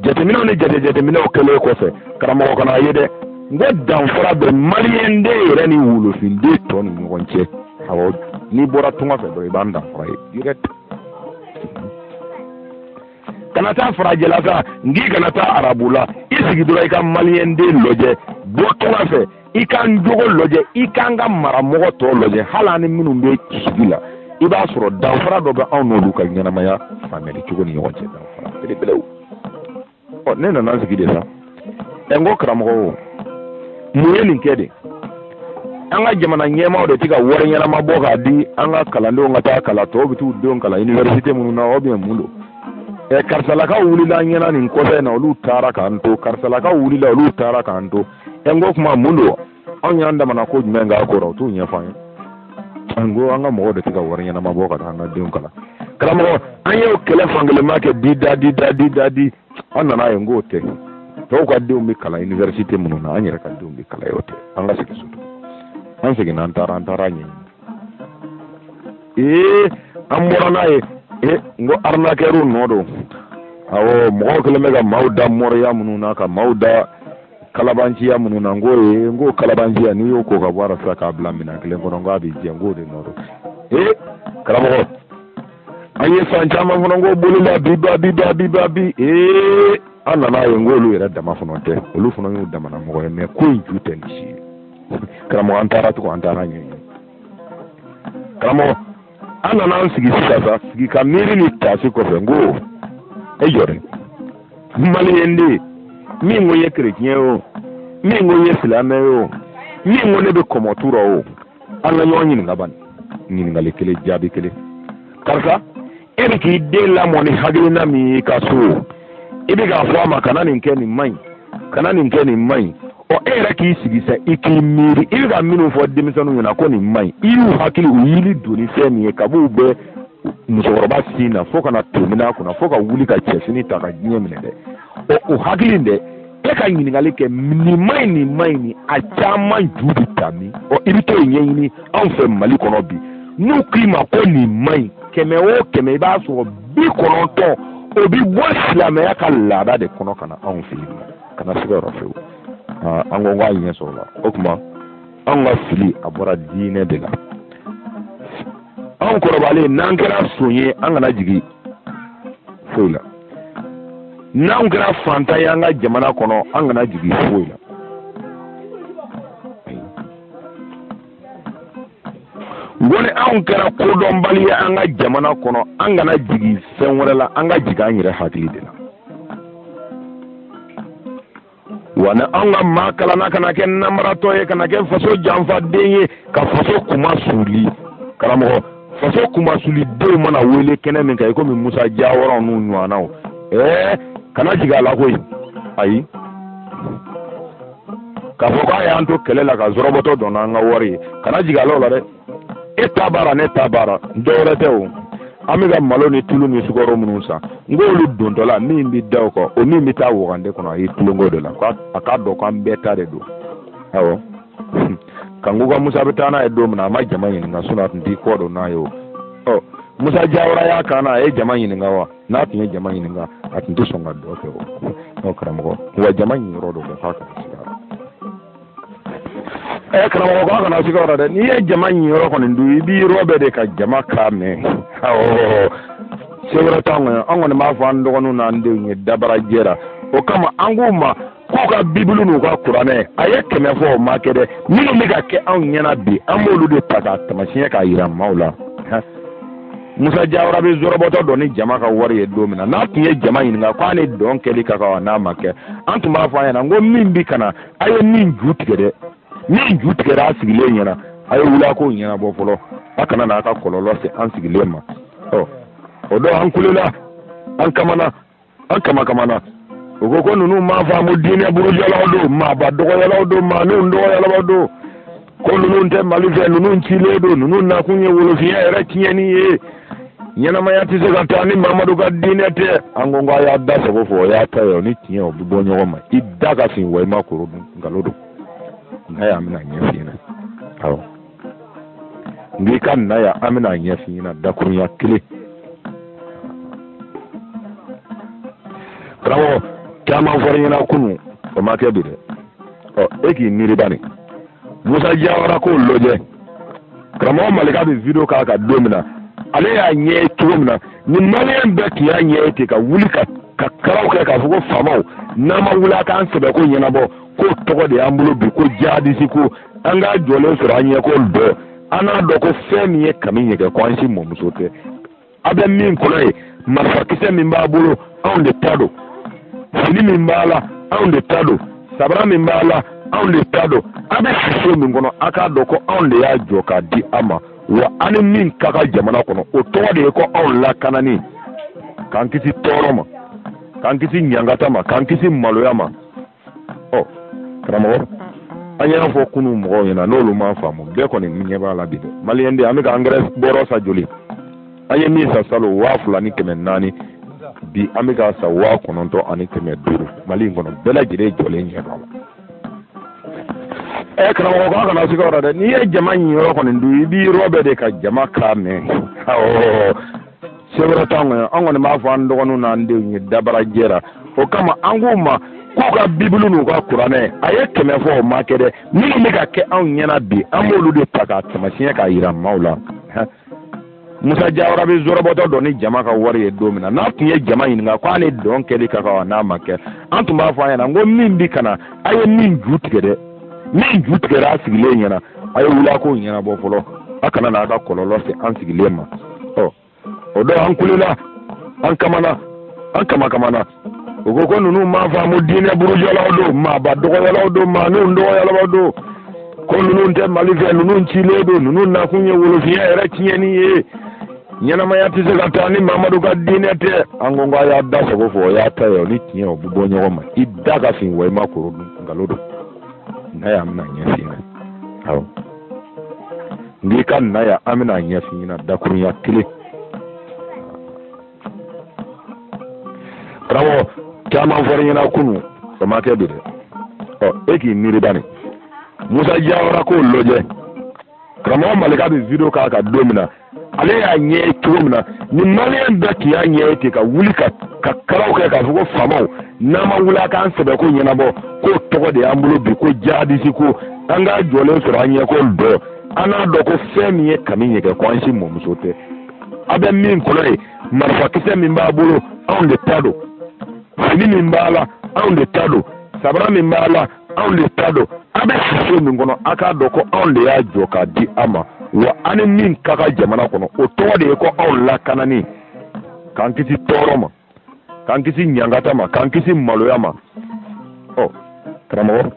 jateminɛw ni jate jateminɛw kɛlen kɔfɛ karamɔgɔ ka n'a ye dɛ n ko danfara bɛ maliyɛnden yɛrɛ ni wolofinden tɔ ni ɲɔgɔn cɛ awɔ n'i bɔra tunga fɛ dɔrɔn i b'an danfara ye direct kana taa farajɛla sa n k'i kana taa arabu la i sigi dɔrɔn i ka maliyɛnden lajɛ bɔ tunga fɛ i k'an jogo lajɛ i k'an ka maramɔgɔ tɔw lajɛ hali an ni minnu bɛ sigi la i b'a sɔrɔ danfara dɔ bɛ anw n'olu ka ɲɛnamaya faamuyali cogo ni ɲɔgɔn cɛ danfara belebelew ɔ ne nana sigi de sa ɛ n ko karamɔgɔ o mun ye nin kɛ de an ka jamana ɲɛmaaw de tɛ ka wari ɲɛnama bɔ k'a di an ka kalandenw ka taa kalan tɔw bɛ t'u denw kalan iniwɛrisite minnu na ou bien mun don ɛ karisalakaw wulila an ɲɛna nin kɔfɛ in na olu taara k'an to karisalakaw wulila olu taara k'an to ɛ n ko kuma mun don anw y'an damana ko jumɛn k'a ko la u t'o ɲɛfɔ an ye n ko an ka mɔgɔw de tɛ ka wari ɲɛnama bɔ ka taa an ka denw kalan karamɔgɔ an y'o kɛlɛ fankelenma kɛ di da di da di da di an nan'a ye n k'o tɛ tɔw ka denw bɛ kalan iniwɛrisite minnu na an yɛrɛ ka denw bɛ kalan yen o tɛ an ka segin so an seginna an taara an taara ɲɛɲini ee an bɔra n'a ye ee n ko arinakɛriw nɔ don awɔ mɔgɔw kɛlen bɛ ka maaw da moriya minnu na ka maaw da kalabanciya minnu na n k'o ye n k'o kalabanciya n'i y'o ko ka bɔ a la sisan k'a bila minɛn kelen kɔnɔ n k'a bɛ jɛ n k'o de nɔ don ee karamɔgɔ an ye san caman fana n ko bolola bi ba bi ba bi ba bi ee an nana ye n k'olu yɛrɛ dama fana tɛ olu fana y'u damana mɔgɔ ye mais ko in ju tɛ nin si ye karamɔgɔ an taara tugun an taara ɲɛɲini karamɔgɔ an nana an sigi sisan sa sigi ka miiri ni taasi kɔfɛ n ko e jɔ dɛ maliyɛnden min ko n ye kerecɛn ye o min ko n ye silamɛ ye o min ko ne bɛ kɔmɔtu rɔ o an ka ɲɔgɔn ɲininka bani ɲininkali kelen jaabi kelen karisa e bɛ k'i den lamɔ ni hakilina min ye i ka so i bɛ k'a fɔ a ma kana nin kɛ nin man ɲi kana nin kɛ nin man ɲi ɔ e yɛrɛ k'i sigi sa i k'i miiri i bɛ ka minnu fɔ denmisɛnninw ɲɛna ko nin man ɲi i y'u hakili u yili don ni fɛn min ye kab'u bɛ musokɔrɔba sin na fo ka na to minɛ a kunna fo ka wuli ka cɛfini ta ka diɲɛ minɛ dɛ ɔ o hakili in dɛ e ka ɲininkali kɛ nin man ɲi nin man ɲi nin a caman ju bɛ ta min ɔ i bɛ t'o ɲɛɲini anw fɛ mali kɔnɔ bi n'u k'i ma ko nin man ɲi kɛmɛ o kɛmɛ i b'a sɔrɔ bi kɔnɔntɔn o bɛ bɔ silamɛya ka laada de kɔnɔ ka na anw fɛ yen kana siga o rɔ fewu an ko k'a ɲɛ sɔrɔ la o tuma anw ka fili a bɔra diinɛ de la anw kɔrɔbalen n'an kɛra son ye an kana jigin foyi la n'anw kɛra fantan ye an ka jamana kɔnɔ an kana jigin foyi la n ko ni anw kɛra kodɔnbali ye an ka jamana kɔnɔ an kana jigin fɛn wɛrɛ la an ka jigin an yɛrɛ hakili de la wa ni anw ka maa kalanna kana kɛ namaratɔ ye kana kɛ faso janfaden ye ka faso kunmasuuli karamɔgɔ faso kunmasuulidenw mana wele kɛnɛ min kan i komi musa jawara n'u ɲɔgɔnnaw ɛɛ kana jigin a la koyi ayi k'a fɔ k'a y'an to kɛlɛ la ka zɔrɔbɔtɔ dɔn n'an ka wari ye kana jigin a la o la dɛ e ta baara ne ta baara dɔ wɛrɛ tɛ o an bɛ ka malo ni tulu ni sukaro minnu san n k'olu dontɔ la min bɛ da o kan o min bɛ taa wagande kɔnɔ a ye tulonko de la a k'a dɔn k'an bɛɛ ta de don awɔ kanku ka musa bɛ taa n'a ye don min na a ma jama ɲininka sinɔn a tun t'i kɔ don n'a ye o ɔ musa jawara y'a kan na a ye jama ɲininka wa n'a tun ye jama ɲininka a tun tɛ sɔn ka dɔ kɛ o karamɔgɔ wa jama niyɔrɔ dɔ kɛ k'a kana siga ɛ karamɔgɔ k'a kana siga o rɔ dɛ n'i ye jama niyɔrɔ kɔni dun i b'i rɔbɛn de ka jama kan mɛn awɔ se wɛrɛ t'an kɔni an kɔni b'a fɔ an dɔgɔninw n'an denw ye dabarajɛ la o kama an k'u ma k'u ka bibulu n'u ka kuranɛ a ye kɛmɛ fɔ o ma kɛ dɛ minnu bɛ ka kɛ anw ɲɛna bi an b'olu de ta k'a tamasiɲɛ k'a yira maaw la musa jawara bɛ zɔrɔbɔtɔ dɔn ni jama ka wari ye don min na n'a tun ye jama ɲininka k'a ni dɔn kɛli ka kan wa n'a ma kɛ an tun b'a fɔ a ɲɛna n ko min bɛ ka na a ye min ju tigɛ dɛ min ju tigɛra a sigilen ɲɛna a ye wuli a k'o ɲɛnabɔ fɔlɔ a kana n'a ka kɔlɔlɔ se an sigilen ma ɔ o don an kulela an kamana an kamakamana u ko ko ninnu m'a faamu diinɛ burujɛlaw don maaba dɔgɔyalaw don maaninw dɔgɔyalaw don ko ninnu tɛ mali fɛ ninnu cilen don ninnu nakun ye wolofinya yɛrɛ tiɲɛni ye ɲɛnamaya tɛ se ka taa ni mamadu ka diinɛ tɛ an ko ko a y'a da sago fɔ o y'a ta ye o ni tiɲɛ o bɛ bɔ ɲɔgɔn ma i da ka fin wa i ma koro dun nkalon don na yan an bɛn'a ɲɛf'i ɲɛna awɔ n k'i ka na yan an bɛn'a ɲɛf'i ɲɛna dakurunya kelen karamɔgɔ caman fɔra ɲɛna kunu o ma kɛ bi dɛ ɔ e k'i miiri bani musa jawara k'o lajɛ karamɔgɔ malika bɛ video k'a kan don min na ale y'a ɲɛ ye cogo min na ni maliyɛn bɛɛ tun y'a ɲɛ ye ten ka wuli ka karaw kɛ k'a fɔ ko faamaw n'a ma wuli a k'an sɛbɛko ɲɛnabɔ k'o tɔgɔ de y'an bolo bi ko jihadisi ko an k'a jɔlen sɔrɔ an ɲɛ kɔrɔ an n'a dɔn ko fɛn min ye kami ɲɛgɛn ko an si mɔmuso tɛ a bɛ min kɔnɔ ye marifakisɛ min b'a bolo anw de ta don fini min b'a la anw de ta don sabara min b'a la anw de ta don a bɛ si so min kɔnɔ a k'a dɔn ko anw de y'a jɔ k'a di a ma wa a ni min ka kan jamana kɔnɔ o tɔgɔ de ye ko anw lakanani k'an kisi tɔɔrɔ ma k'an kisi ɲangata ma k'an kisi maloya ma ɔ karamɔgɔ an y'a fɔ kunu mɔgɔw ɲɛna n'olu m'a faamu bɛɛ kɔni ɲɛ b'a la bi dɛ maliyɛnden an bɛ ka angɛrɛ bɔrɔ san joli an ye min san salon waa fila ni kɛmɛ naani bi an bɛ k'a san waa kɔnɔntɔn ani kɛmɛ duuru mali in kɔnɔ bɛɛ lajɛlen jɔlen ɲɛ b'a la ɛ karamɔgɔ k'a kana siga o la dɛ n'i ye jama niyɔrɔ kɔni dun i b'i rɔbɛn de ka jama kan mɛn awɔ se wɛrɛ t'an kɔnɔ an kɔni b'a fɔ an dɔgɔninw n'an denw ye dabarajɛ la o kama an k'u ma k'u ka bibulu n'u ka kuranɛ a ye kɛmɛ fɔ o ma kɛ dɛ minnu bɛ ka kɛ anw ɲɛna bi an b'olu de ta k'a tamasiɲɛ k'a yira maaw la musa jawara bɛ zɔrɔbɔtɔ dɔn ni jama ka wari ye don min na n'a tun ye jama ɲininka k'a ni dɔn kɛli ka kan wa n'a ma kɛ an tun b'a fɔ a ɲɛna n ko min bɛ ka na a ye min ju tigɛ dɛ min ju tigɛra a sigilen ɲɛna a ye wuli a k'o ɲɛnabɔ fɔlɔ a kana n'a ka kɔlɔlɔ se an sigilen ma ɔ o don an kulela an kamana an kamakamana u ko ko ninnu m'a faamu diinɛ burujɛlaw don maaba dɔgɔyalaw don maaninw dɔgɔyalaw don ko ninnu tɛ mali fɛ ninnu cilen don ninnu nakun ye wolofinya yɛrɛ tiɲɛni ye ɲɛnamaya tɛ se ka taa ni mamadu ka diinɛ tɛ an ko k'a y'a da sago fɔ o y'a ta ye o ni tiɲɛ o bɛ bɔ ɲɔgɔn ma i da ka fin wa i ma koro dun nkalon don n'a ye an bɛna ɲɛf'i ɲɛna awɔ n k'i ka na yan an bɛna ɲɛf'i ɲɛna dakurunya kelen karamɔgɔ caman fɔr'i ɲɛna kunu o ma kɛ bi dɛ ɔ e k'i miiri bani musa jawara k'o lajɛ karamɔgɔ malika bɛ video k'a kan don min na ale y'a ɲɛ ye cogo min na ni maliyɛn bɛɛ tun y'a ɲɛ ye ten ka wuli ka ka karaw kɛ k'a fɔ ko faamaw n'a ma wuli a k'an sɛbɛko ɲɛnabɔ k'o tɔgɔ de y'an bolo bi ko jadisi ko an k'a jɔlen sɔrɔ an ɲɛko dɔn an n'a dɔn ko fɛn min ye kami ɲɛgɛn ko an si mɔmuso tɛ a bɛ min kɔnɔ ye marifakisɛ min b'a bolo anw de ta don fini min b'a la anw de ta don sabara min b'a la anw de ta don a bɛ sise min kɔnɔ a k'a dɔn ko anw de y'a jɔ k'a di a ma wa an ni min ka kan jamana kɔnɔ o tɔgɔ de ye ko anw lakanani k'an kisi tɔɔrɔ ma k'an kisi ɲangata ma k'an kisi maloya ma ɔ karamɔgɔ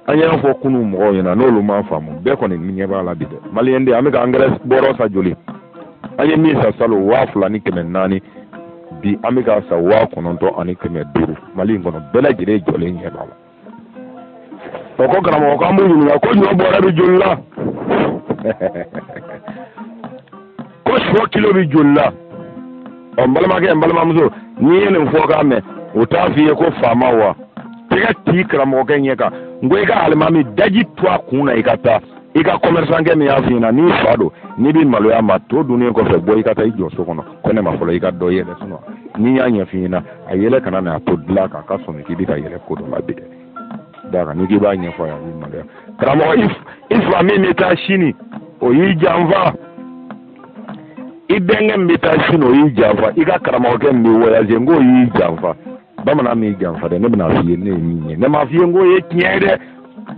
an y'a fɔ kunun mɔgɔw ɲɛna n'olu m'a faamu bɛɛ kɔni ɲɛ b'a la bi dɛ maliyɛnden an bɛ ka angɛrɛ bɔrɔ sa joli an ye min sa salon waa fila ni kɛmɛ naani bi an bɛ ka sa waa kɔnɔntɔn ani kɛmɛ duuru mali in kɔnɔ bɛɛ lajɛlen jɔlen ɲɛ b'a la o ko karamɔgɔ k'an b'u ɲininka ko ɲɔ bɔrɛ bɛ joli la ko sɔ kilo bɛ joli la ɔ n balimakɛ n balimamuso n'i ye nin fɔkan mɛn o t'a f'i ye ko faama wa tɛgɛ t'i karamɔgɔkɛ ɲɛ kan n ko i ka alimami daji to a kun na i ka taa i ka kɔmɛrisankɛ min y'a f'i ɲɛna n'i fa don n'i bɛ maloya ma to dunnen kɔfɛ bɔ i ka taa i jɔ so kɔnɔ ko ne ma fɔlɔ i ka dɔ yɛlɛ sunɔ n'i y'a ɲɛf'i ɲɛna a yɛlɛ kana na a to dilan kan a ka sɔmi k'i bɛ ka yɛlɛ ko dɔ la bi dɛ da kan n'i k'i b'a ɲɛfɔ a ye a b'i maloya karamɔgɔ i fa min bɛ taa sini o y'i janfa i bɛnkɛ min bɛ taa sini o y'i janfa i ka karamɔgɔkɛ min bɛ wɔyaze n k'o y'i janfa bamanan m'i janfa dɛ ne bɛna f'i ye ne ye min ye ne m'a f'i ye n k'o ye tiɲɛ ye dɛ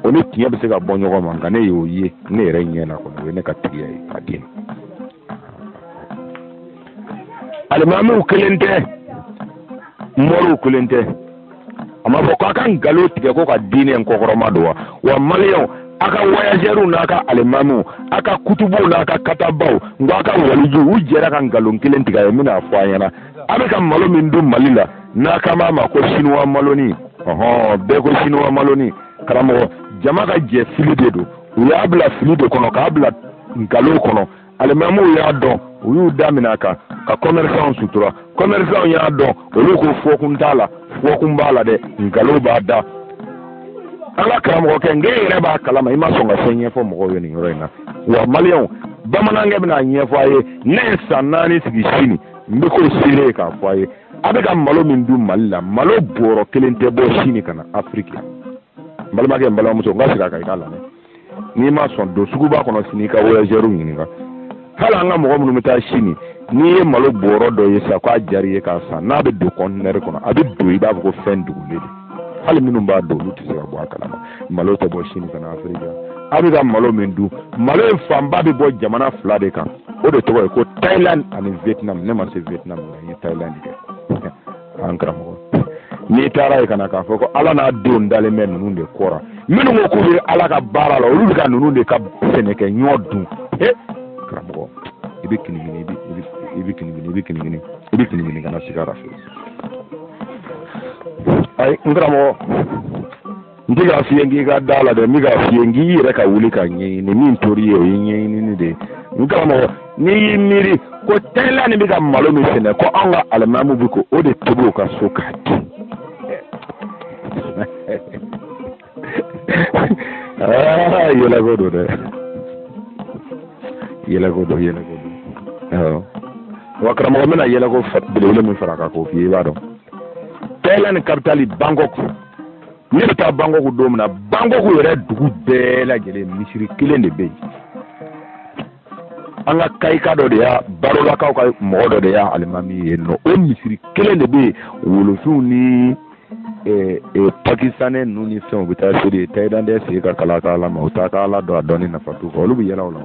o ni tiɲɛ bɛ se ka bɔ ɲɔgɔn ma nka ne y'o ye ne yɛrɛ ɲɛ na kɔni o ye ne ka tigiya ye ka di alimamiw kelen tɛ mɔriw kelen tɛ a ma fɔ ko a ka nkalon tigɛ ko ka diinɛ in kɔkɔrɔma don wa wa maliyɛnw a ka wayazɛriw n'a ka alimamiw a ka kutubuw n'a ka katabaw n ko a ka walijuw u jɛra ka nkalon kelen tigɛ a ye n bɛna a fɔ a ɲɛna a bɛ ka malo min dun mali la n'a kan b'a ma ko sinuwa maloni ɔhɔn bɛɛ ko sinuwa maloni karamɔgɔ jama ka jɛ fili de don u y'a bila fili de kɔnɔ k'a bila nkalo kɔnɔ alimamiw y'a dɔn u y'u da minɛ a kan ka kɔmɛrisanw sutura kɔmɛrisanw y'a dɔn olu ko fɔkun t'a la fɔkun b'a la dɛ nkalo b'a da an ka karamɔgɔkɛ n ko i yɛrɛ b'a kalama i ma sɔn ka fɛn ɲɛfɔ mɔgɔw ye nin yɔrɔ in na wa maliyɛnw bamanankɛ bɛna a ɲɛfɔ a ye ne ye san naani sigi sini n bɛ k'o seereya k'a fɔ a ye a bɛ ka malo min dun mali la malo bɔrɔ kelen tɛ bɔ sini ka na afiriki la n balimakɛ n balimamuso n ka segin a kan i k'a lamɛn n'i ma sɔn don suguba kɔnɔ sini i ka voyageurs ɲininka hali an ka mɔgɔ minnu bɛ taa sini n'i ye malo bɔrɔ dɔ ye sa k'a diyara i ye k'a san n'a bɛ don kɔntinɛri kɔnɔ a bɛ don i b'a fɔ ko fɛn dogolen don hali minnu b'a don olu tɛ se ka bɔ a kalama malo tɛ bɔ sini ka na afiriki la a bɛ ka malo min dun malo in fanba bɛ bɔ jamana fila de kan o de tɔgɔ ye ko thailand ani vietnam ne ma se vietnam nka n ye thailand kɛ an karamɔgɔ n'i taara ye ka na k'a fɔ ko ala n'a denw dalen bɛ ninnu de kɔra minnu ko k'u bɛ ala ka baara la olu bɛ ka ninnu de ka sɛnɛkɛ ɲɔ dun he karamɔgɔ i bɛ kinigini i bɛ i bɛ kinigini i bɛ kinigini i bɛ kinigini kana siga a ra fewu ayi n karamɔgɔ n tɛ k'a f'i ye k'i ka da a la dɛ n bɛ k'a f'i ye k'i yɛrɛ ka wuli k'a ɲɛɲini min tori ye o ye ɲɛɲinini de ye n karamɔgɔ n'i y'i miiri ko thailand bɛ ka malo min sɛnɛ ko anw ka alimamiw bɛ k'o de tobi u ka so k'a dun aa yɛlɛko don dɛ yɛlɛko don yɛlɛko don awɔ wa karamɔgɔ n bɛna yɛlɛko belebele min fara a kan k'o f'i ye i b'a dɔn thailand kapitali bangkɔku ne bɛ taa bangkɔku don min na bangkɔku yɛrɛ dugu bɛɛ lajɛlen misiri kelen de bɛ yen an ka kayika dɔ de y'a barolakaw ka mɔgɔ dɔ de y'a alimami ye nɔ o misiri kelen de bɛ yen wolofinw ni eh, eh, pakistanɛ ninnu ni fɛnw bɛ taa seli tayilandɛ si t'a ka ala kalama u t'a ka ala dɔn a dɔnni nafa t'u fɛ olu bɛ yɛlɛ o la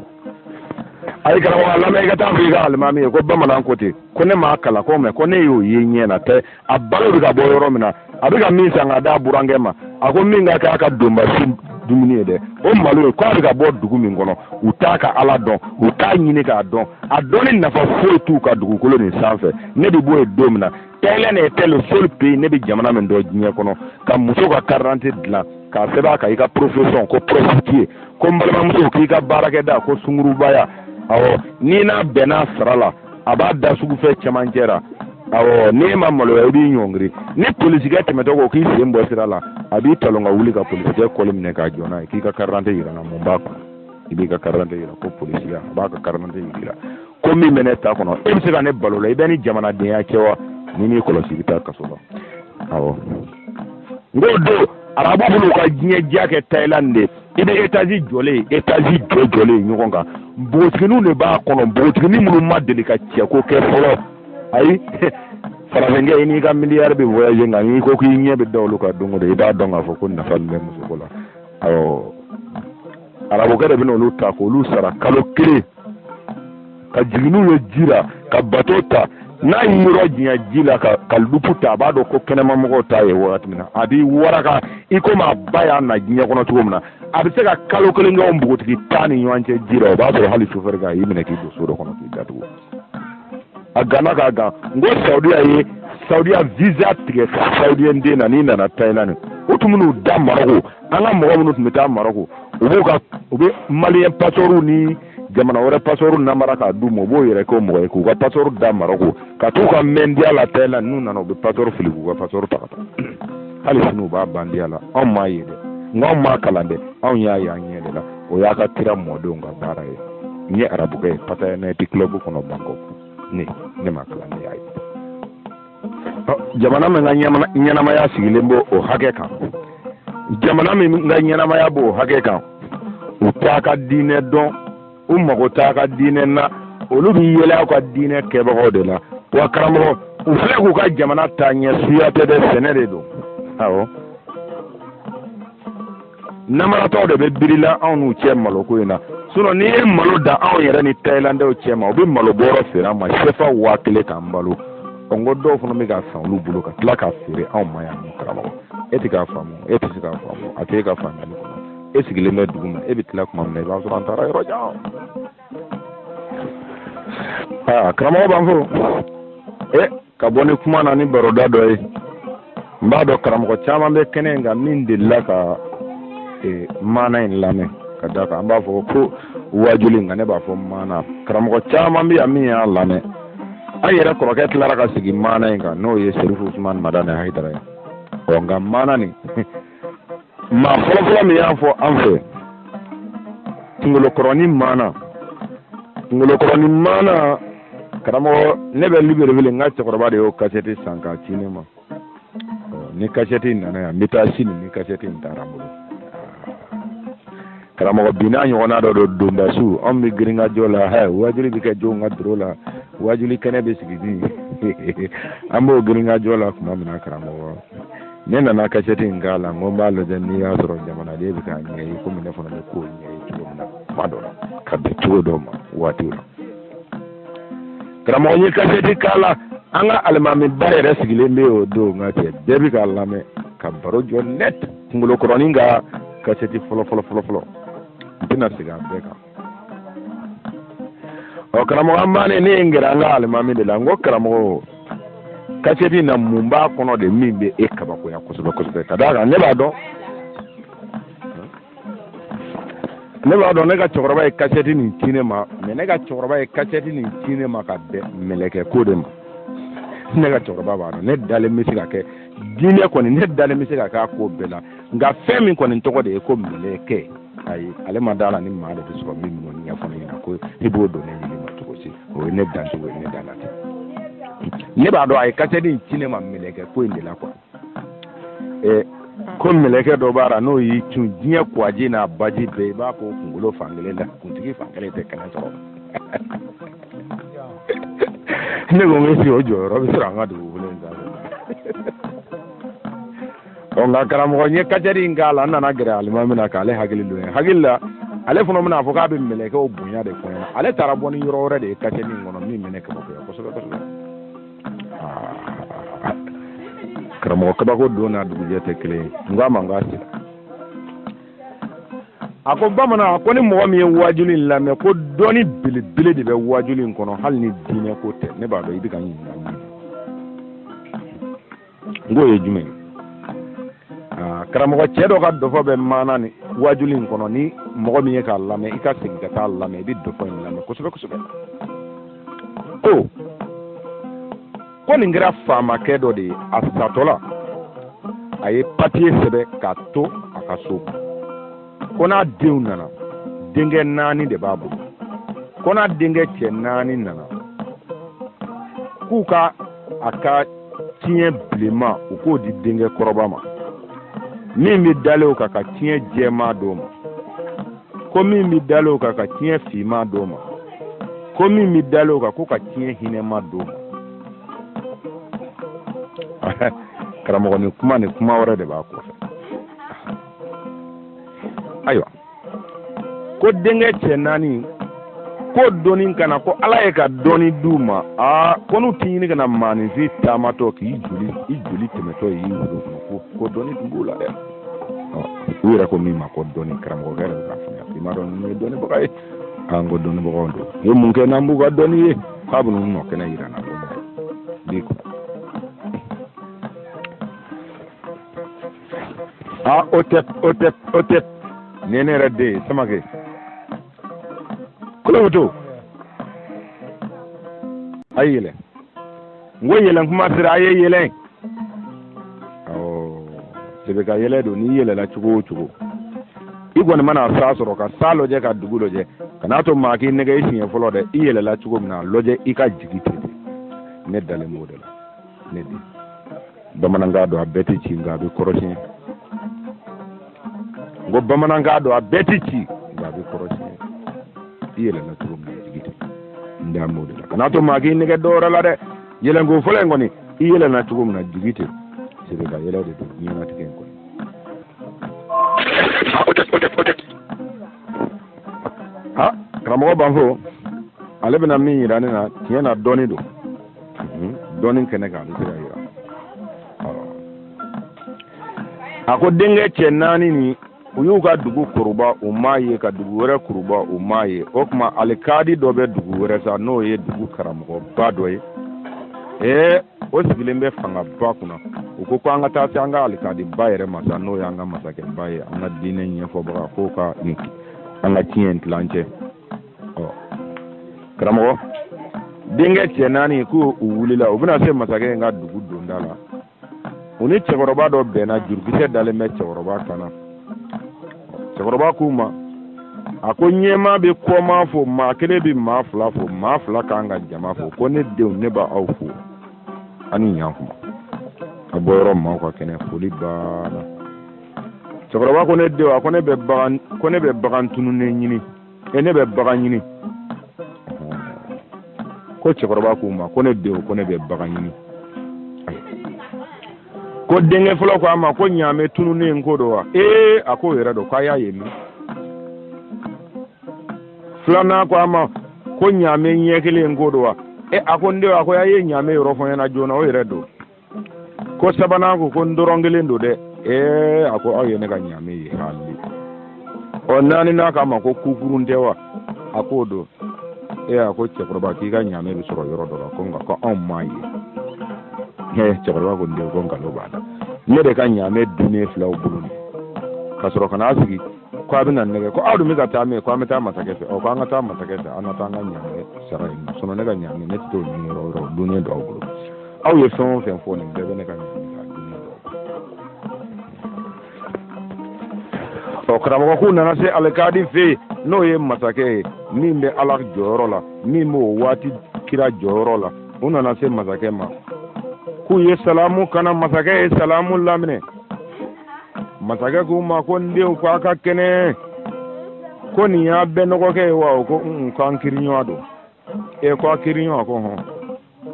ayi karamɔgɔ lamɛn i ka taa fɔ i ka alimami ye ko bamanan ko ten ko ne m'a kalan ko mɛ ko ne y'o ye ɲɛ na tɛ a balo bɛ ka bɔ yɔrɔ min na a bɛ ka min san ka d'a burankɛ ma a ko min ka kɛ a ka donba su dumuni ye dɛ o malo ye k'a bɛ ka bɔ dugu min kɔnɔ u t'a ka ala dɔn u t'a ɲini k'a dɔn a dɔnni nafa foyi t'u ka dugukolo nin sanfɛ ne bɛ bɔ yen don min na thailand était le seul pays ne bɛ jamana min dɔn diɲɛ kɔnɔ ka muso ka carte d'identité dilan k'a sɛbɛn a kan i ka profession ko prostituée ko n balimamuso k'i ka baarakɛda ko sungurubaya awɔ n'i n'a bɛnna sara la a b'a da sugufɛ cɛmancɛ la awɔ n'e ma maloya i b'i ɲɔngiri ni polisikɛ tɛmɛtɔ ko k'i sen bɔ sira la a b'i talon ka wuli ka polisikɛ kɔli minɛ k'a jɔ n'a ye k'i ka karidante yira n na mun b'a kɔnɔ i b'i ka karidante yira ko polisiya a b'a ka karidante yira ko min bɛ ne ta kɔnɔ e bɛ se ka ne balo la i bɛ ni jamanadenya kɛ wa n'i m'i kɔlɔsi i bɛ taa kaso la awɔ n ko don arabu b'u ka diɲɛ diya kɛ tayilandi de i bɛ etazi jɔlen ye etazi jɔlen ye ɲɔgɔn kan npogotigininw de b'a kɔnɔ npogotiginin minnu ma deli ka cɛko kɛ fɔlɔ ayi farafinkɛ i n'i ka miliyari bɛ voyager nka n'i ko k'i ɲɛ bɛ da olu kan don o don i b'a dɔn k'a fɔ ko nafa min bɛ musoko la awɔ arabukɛ de bɛna olu ta k'olu sara kalo kelen ka jigin n'u ye ji la ka bato ta n'a y'i yɔrɔ janya ji la ka ka lupu ta a b'a dɔn ko kɛnɛmamɔgɔw t'a ye wagati min na a b'i waraka i komi a ba y'a na diɲɛ kɔnɔ cogo min na a bɛ se ka kalo kelen kɛ o npogotigi tan ni ɲɔgɔn cɛ ji la o b'a sɔrɔ hali sofɛri kan a y'i minɛ k'i don so dɔ kɔnɔ k'i datugu a ganna k'a gan n ko saudiya ye saudiya visa tigɛ ka saudiyɛn den na n'i nana tayilandi o tun b'u da maroko an ka mɔgɔ minnu tun bɛ taa maroko u b'u ka u bɛ maliyɛn pasɔrɔw ni jamana wɛrɛ pasɔrɔw namara k'a d'u ma u b'u yɛrɛ k'o mɔgɔ ye k'u ka pasɔrɔ da maroko ka t'u ka mɛndiya la tayilandi n'u nana u bɛ pasɔrɔ fili k'u ka pasɔrɔ ta ka taa hali sini u b'a bandiya la anw m'a ye dɛ nka anw m'a kalan dɛ anw y'a ye an ɲɛ de la o y'a ka kira mɔdenw ka baara ye n ye arabukɛ ye pataya night club kɔnɔ bangkok ne ne m'a kalan ne y'a ye jamana min ka ɲɛnamaya sigilen b'o o hakɛ kan jamana min ka ɲɛnamaya b'o hakɛ kan u t'a ka diinɛ dɔn u mago t'a ka diinɛ na olu bɛ yɛlɛ aw ka diinɛ kɛbagaw de la wa karamɔgɔ u filɛ k'u ka jamana taa ɲɛ suya tɛ dɛ sɛnɛ de don awɔ namaratɔw de bɛ birila anw n'u cɛ maloko in na sinɔn n'i ye malo da anw yɛrɛ ni tayilandɛw cɛ ma u bɛ malo bɔrɔ feere an ma sefa waa kelen k'an balo ɔ n ko dɔw fana bɛ k'a san olu bolo ka tila k'a feere anw ma yan karamɔgɔ e tɛ k'a faamu e tɛ se k'a faamu a tɛ e ka faamuyali kɔnɔ e sigilen bɛ dugu ma e bɛ tila kuma min na i b'a sɔrɔ an taara yɔrɔ jan aa karamɔgɔ b'an fo e ka bɔ ni kuma na ni baroda dɔ ye n b'a dɔn karamɔgɔ caman bɛ kɛnɛ in kan min delila ka e, maana in lamɛn ka da kan an b'a fɔ ko waajuli nka ne b'a fɔ maana karamɔgɔ caman bɛ yan min y'a lamɛn an yɛrɛ kɔrɔkɛ tilara ka sigi maana in kan n'o ye serifu usumani madani hayidara ye ɔ nka maana nin maa fɔlɔfɔlɔ min y'a fɔ an fɛ kungolokɔrɔni maana kungolokɔrɔni maana karamɔgɔ ne bɛ libreville n ka cɛkɔrɔba de y'o kasɛti san k'a ci ne ma ni kasɛti nana yan n bɛ taa sini ni kasɛti in taara n bolo karamɔgɔ bi n'a ɲɔgɔnna dɔ don donbasu anw bɛ girinkajɔ la hɛ waajuli bɛ kɛ jɔnw ka doro la waajuli kɛnɛ bɛ sigi min an b'o girinkajɔ la tuma min na karamɔgɔ ne nana kasɛti in k'a la n ko n b'a lajɛ n'i y'a sɔrɔ jamanaden bɛ k'a ɲɛ ye komi ne fana bɛ k'o ɲɛ ye cogo min na kuma dɔ la ka bɛn cogo dɔ ma waati la karamɔgɔ n ye kasɛti k'a la an ka alimamiba yɛrɛ sigilen bɛ o don nka cɛ bɛɛ bɛ k'a lamɛn ka baro jɔ nɛt kungolokɔrɔnin ka kasɛti fɔlɔ fɔlɔ fɔlɔ fɔlɔ n tɛna segin a bɛɛ kan ɔ karamɔgɔ an bannen ne ye n gɛrɛ an ka alimami de la n ko karamɔgɔ kasɛti na mun b'a kɔnɔ de min bɛ e kabakoya kosɛbɛ kosɛbɛ ka d'a kan ne b'a dɔn ne b'a dɔn ne ka cɛkɔrɔba ye kasɛti nin ci ne ma mɛ ne ka cɛkɔrɔba ye kasɛti nin ci ne ma ka bɛn mɛlɛkɛ ko de ma ne ka cɛkɔrɔba b'a dɔn ne dalen bɛ se ka kɛ diinɛ kɔni ne dalen bɛ se ka k'a ko bɛɛ la nka fɛn min kɔni tɔgɔ de ye ko mɛlɛkɛ ayi ale ma d'a la ni maa de bɛ sɔrɔ min b'o ɲɛfɔ ne ɲɛna ko i b'o dɔn ne ɲini ma cogo si o ye ne dancogo ye ne da la ten ne b'a dɔn a ye kasɛti in ci ne ma mɛlɛkɛ ko in de la kuwa ɛ ko mɛlɛkɛ dɔ b'a la n'o y'i cun diɲɛ kuwaji n'a baji bɛɛ i b'a ko kunkolo fankelen da kuntigi fankelen tɛ kɛnɛ sɔrɔ ne ko n sigi o jɔyɔrɔ bɛ sɔrɔ an ka dugukolo in sanfɛ ɔ nka karamɔgɔ n ye kasɛti in k'a la n nana gɛrɛ alimami na k'ale hakili dɔn ne hakili la ale fana bɛna fɔ k'a bɛ mɛlɛkɛw bonya de fɔ n ɲɛna ale taara bɔ ni yɔrɔ wɛrɛ de ye kasɛti in kɔnɔ min bɛ ne kabakoya kosɛbɛ kosɛbɛ karamɔgɔ kabako don n'a dugujɛ tɛ kelen ye n k'a ma n k'a sigi a ko bamanan a ko ni mɔgɔ min ye waajuli in lamɛn ko dɔnni belebele de bɛ waajuli in kɔnɔ hali ni diinɛ ko tɛ ne b'a dɔn i bɛ ka n ɲininka min n k'o ye jumɛn ye aa karamɔgɔ cɛ dɔ ka dɔfɔ bɛ maana ni waajuli in kɔnɔ ni mɔgɔ min ye k'a lamɛn i ka segin ka t'a lamɛn i bɛ dɔfɔ in lamɛn kosɛbɛ kosɛbɛ ko ko nin kɛra faamakɛ dɔ de ye a satɔ la a ye papiye sɛbɛn k'a to a ka so ko n'a denw nana denkɛ naani de b'a bolo ko n'a denkɛ cɛ naani nana k'u ka a ka tiɲɛ bilenman u k'o di denkɛ kɔrɔba ma min bɛ dalen o kan ka tiɲɛ jɛman d'o ma ko min bɛ dalen o kan ka tiɲɛ finman d'o ma ko min bɛ dalen o kan ko ka tiɲɛ hinɛma d'o ma karamɔgɔ ni kuma ni kuma wɛrɛ de b'a kɔfɛ ayiwa ko denkɛ cɛ naani ko dɔnni kana ko ala ye ka dɔnni d'u ma aa ko n'u ti ɲini kana maaninfin taamatɔ k'i joli i joli tɛmɛtɔ y'i wolo kɔnɔ ko ko dɔnni tun b'u la dɛ u yɛrɛ ko min ma ko dɔnni karamɔgɔkɛ yɛrɛ bɛ k'a faamuya i m'a dɔn nin ye dɔnnibaga ye k'an ko dɔnnibagaw don u ye mun kɛ n'an b'u ka dɔnni ye k'a bɛ n'u nɔ kɛnɛ yira an na bi ko a o tɛ o tɛ o tɛ nin ye ne yɛrɛ den ye samake koloboto a yɛlɛ n ko yɛlɛn kuma sera a ye yɛlɛn sebe kan yɛlɛn don n'i yɛlɛla cogo o cogo i kɔni mana san sɔrɔ ka san lajɛ ka dugu lajɛ kan'a to maa k'i nɛgɛn i siɲɛ fɔlɔ dɛ i yɛlɛla cogo min na lajɛ i ka jigi ten dɛ ne dalen b'o de la ne den bamanankan don a bɛɛ tɛ ci nka a bɛ kɔrɔ tiɲɛ n ko bamanankan don a bɛɛ tɛ ci nka a bɛ kɔrɔ tiɲɛ i yɛlɛla cogo min na jigi ten n da m'o de la kana to maa k'i nɛgɛn dɔwɛrɛ la dɛ yɛlɛnko fɔlɔ in kɔni i yɛlɛna cogo min na jigi ten sebe kan yɛlɛn de don diɲɛnatigɛ in kɔnɔ ha karamɔgɔ banfo ale bɛna min yira ne na tiɲɛ na dɔnni don dɔnni kɛnɛ kan ale tɛ ka yira a ko denkɛ cɛ naani ni u y'u ka dugu kuruba u m'a ye ka dugu wɛrɛ kuruba u m'a ye o tuma alikadi dɔ bɛ dugu wɛrɛ sa n'o ye dugu karamɔgɔba dɔ ye ee o sigilen bɛ fangaba kunna u ko ko an ka taa se an ka alikadiba yɛrɛ ma sa n'o y'an ka masakɛba ye an ka diinɛ ɲɛfɔbaga k'o ka an ka tiɲɛ tila an cɛ karamɔgɔ denkɛ cɛ naani ko u wulila u bɛna se masakɛ in ka dugu donda la u ni cɛkɔrɔba dɔ bɛnna jurukisɛ dalen bɛ cɛkɔrɔba kan na cɛkɔrɔba k'u ma a ko ɲɛmaa bɛ kɔmaa fo maa kelen bɛ maa fila fo maa fila ka kan ka jama fo ko ne denw ne b'aw fo a ni ɲankuma a bɔ yɔrɔ maaw ka kɛnɛ foli banna cɛkɔrɔba ko ne denw a ko ne bɛ bagan tununnen ɲini e ne bɛ bagan ɲini ko cɛkɔrɔba k'u ma ko ne denw ko ne bɛ bagan ɲini ko denkɛ fɔlɔ ko a ma ko ɲaamɛ tununnen ko don wa ee a k'o yɛrɛ don k'a y'a ye min filanan ko a ma ko ɲaamɛ ɲɛ kelen ko don wa e a ko n denw a ko a ye ɲaamɛ yɔrɔ fɔ n ɲɛna joona o yɛrɛ don ko sabanan ko ko ntɔrɔn kelen don dɛ ee a ko aw ye ne ka ɲaamɛ ye hali ɔ naaninan k'a ma ko kukurun tɛ wa a k'o don ee a ko cɛkɔrɔba k'i ka ɲaamɛ bɛ sɔrɔ yɔrɔ dɔ la ko nka ko anw m'a ye ee cɛkɔrɔba ko n den ko nkalon b'a la ne de ka ɲaamɛ dunnen fil'aw bolo nin ka sɔrɔ ka n'a sigi ko a bɛna n nɛgɛn ko aw dun bɛ ka taa min ko an bɛ taa masakɛ fɛ ɔ ko an ka taa masakɛ fɛ an ka taa n ka ɲaamɛ sara yen nɔ ne ka ɲaamɛ ne tɛ t'o ɲini yɔrɔ wɛrɛ o dunnen don aw bolo aw ye fɛn o fɛn fɔ nin bɛɛ bɛ ne ka ɲaamɛ la karamɔgɔ k'u nana se alikadi fɛ yen n'o ye masakɛ ye min bɛ ala jɔyɔrɔ la min b'o waati kira jɔyɔrɔ la u nana se masakɛ ma k'u ye salamu k'a la masakɛ ye salamu laminɛ masakɛ k'u ma ko n denw ko a ka kɛnɛ ko nin y'a benɔgɔkɛ ye wa o ko k'an kiriɲɔgɔn don e ko a kiriɲɔgɔn ko hɔn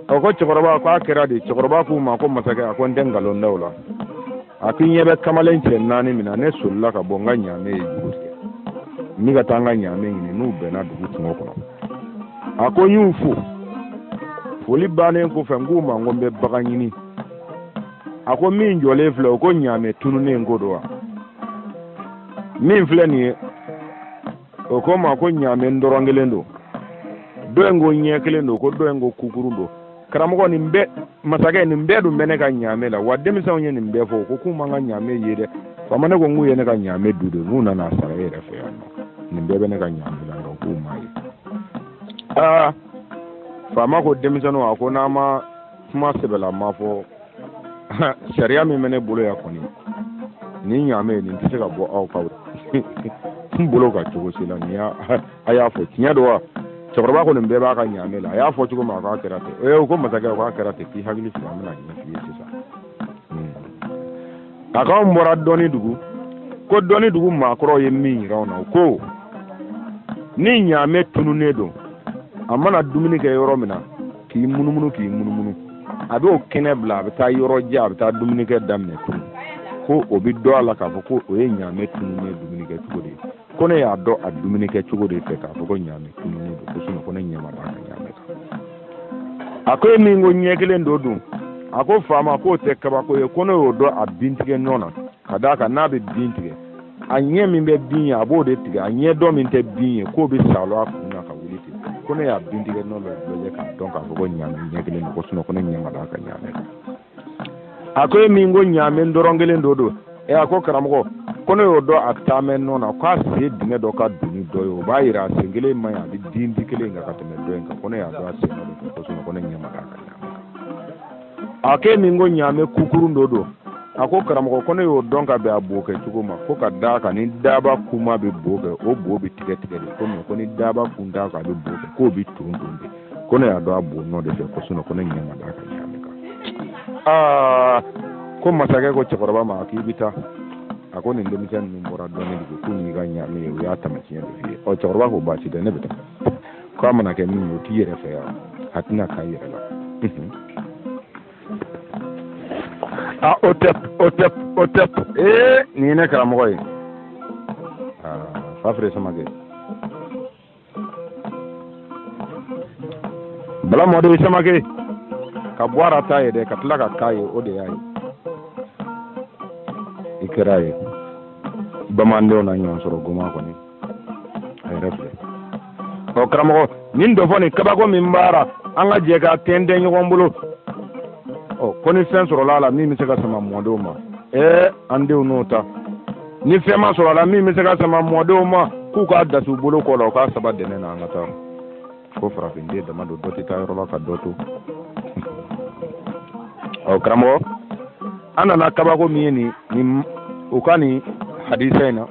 a ko cɛkɔrɔba ko a kɛra di cɛkɔrɔba k'o ma ko masakɛ a ko n tɛ nkalon da o la a ko i ɲɛ bɛ kamalen cɛ naani min na ne solila ka bɔ n ka ɲaamɛ ye juru tigɛ n bɛ ka taa n ka ɲaamɛ ɲini n'u bɛnna dugu kungo kɔnɔ a ko n y'u fo foli bannen kɔfɛ n k'u ma ko n bɛ bagan ɲini a ko min jɔlen filɛ o ko ɲaamɛ tununnen ko don wa min filɛ nin ye o ko n ma ko ɲaamɛ ntɔrɔn kelen don dɔ in ko ɲɛ kelen don ko dɔ in ko kukurun don karamɔgɔ nin bɛɛ masakɛ nin bɛɛ dun bɛ ne ka ɲaamɛ la wa denmisɛnw ye nin bɛɛ fɔ ko k'u ma n ka ɲaamɛ ye dɛ faama ne ko k'u ye ne ka ɲaamɛ dun de n'u nana a sara e yɛrɛ fɛ yan nɔ nin bɛɛ bɛ ne ka ɲaamɛ la nka k'u m'a ye aa faama ko denmisɛnninw a ko n'a ma kuma sɛbɛlama fɔ sariya min bɛ ne bolo yan kɔni ni ɲaamɛ ye nin tɛ se ka bɔ aw kan bolo ka cogo si la nin y'a a y'a fɔ tiɲɛ don wa cɛkɔrɔba ko nin bɛɛ b'a ka ɲaamɛ la a y'a fɔ cogo min a k'a kɛra ten ee u ko masakɛ k'a kɛra ten k'i hakili sigi an bɛn'a ɲɛf'i ye sisan a k'anw bɔra dɔnni dugu ko dɔnni dugu maakɔrɔw ye min yira anw na u ko ni ɲaamɛ tununnen don a mana dumuni kɛ yɔrɔ min na k'i munumunu k'i munumunu a b'o kɛnɛ bila a bɛ taa yɔrɔ jan a bɛ taa dumunikɛ daminɛ tun ko o bɛ dɔn a la k'a fɔ ko o ye ɲaamɛ tununnen dumunikɛ cogo de ye ko ne y'a dɔn a dumunikɛ cogo de fɛ k'a fɔ ko ɲaamɛ tununnen don ko sinon ko ne ɲɛ ma d'a ka ɲaamɛ kan a ko e min ko ɲɛ kelen don dun a ko faama k'o tɛ kabako ye ko ne y'o dɔn a bintigɛ nɔ na ka d'a kan n'a bɛ bin tigɛ a ɲɛ min bɛ bin ye a b'o de tigɛ a ɲɛ dɔ min tɛ bin ye k'o bɛ saalo a kun na ka wuli ten ko ne y'a bin tigɛ nɔ bɛɛ lajɛ k'a dɔn k'a fɔ ko ɲaamɛ ɲɛ kelen don ko sinon ko ne ɲɛ ma d'a ka ɲaamɛ kan a ko e min ko ɲaamɛ ntɔrɔn kelen don dun ɛ a ko karamɔgɔ ko ne y'o dɔn a taama nɔ na k'a sen dingɛ dɔ ka dun ni dɔ ye o b'a yira a sen kelen man ɲi a bɛ tintin kelen kan ka tɛmɛ dɔ in kan ko ne y'a dɔn a sen nɔ de kan ko sinon ko ne ɲɛ ma d'a ka ɲaamɛ a k'e min ko ɲaame kukurun dɔ don a ko karamɔgɔ ko ne y'o dɔn ka bɛn a bo kɛ cogo ma ko ka d'a kan ni daba kuma bɛ bo kɛ o bo bɛ tigɛ tigɛ de ko mɛ ko ni daba ku t'a kan a bɛ bo kɛ k'o bɛ ton ton de ko ne y'a dɔn a bo nɔ de fɛ ko sinɔ ko ne ɲɛ ma d'a ka ɲaame kan aa ko masakɛ ko cɛkɔrɔba ma k'i bɛ taa a ko nin denmisɛn ninnu bɔra dɔɔni de ko k'u m'i ka ɲaame ye u y'a taamasiyɛn de f'i ye ɔ cɛkɔrɔba ko baasi tɛ ne bɛ taa ko a mana kɛ min ye o t'i yɛrɛ fɛ yan a tɛna k'a yɛrɛ la a o tɛ o tɛ o tɛ ee nin ye ne karamɔgɔ ye fafere samakɛ bala mɔden samakɛ ka bɔ a ra ta ye dɛ ka tila ka k'a ye o de y'a ye i kɛra ye bamandenw na ɲɔgɔn sɔrɔ goma kɔni ɔ karamɔgɔ nin dɔ fɔ nin kabako min b'a ra an ka jɛ ka tɛntɛn ɲɔgɔn bolo ɔ ko ni fɛn sɔrɔla a la min bɛ se ka sama mɔdenw ma ee an denw n'o ta ni fɛn ma sɔrɔ a la min bɛ se ka sama mɔdenw ma k'u k'a dasi u bolo kɔ la u k'a saba dɛnɛ na an ka taa ko farafinden dama don dɔ tɛ taa yɔrɔ la ka dɔ to ɔ karamɔgɔ an nana kabako min ye nin nin u ka nin hadisa in na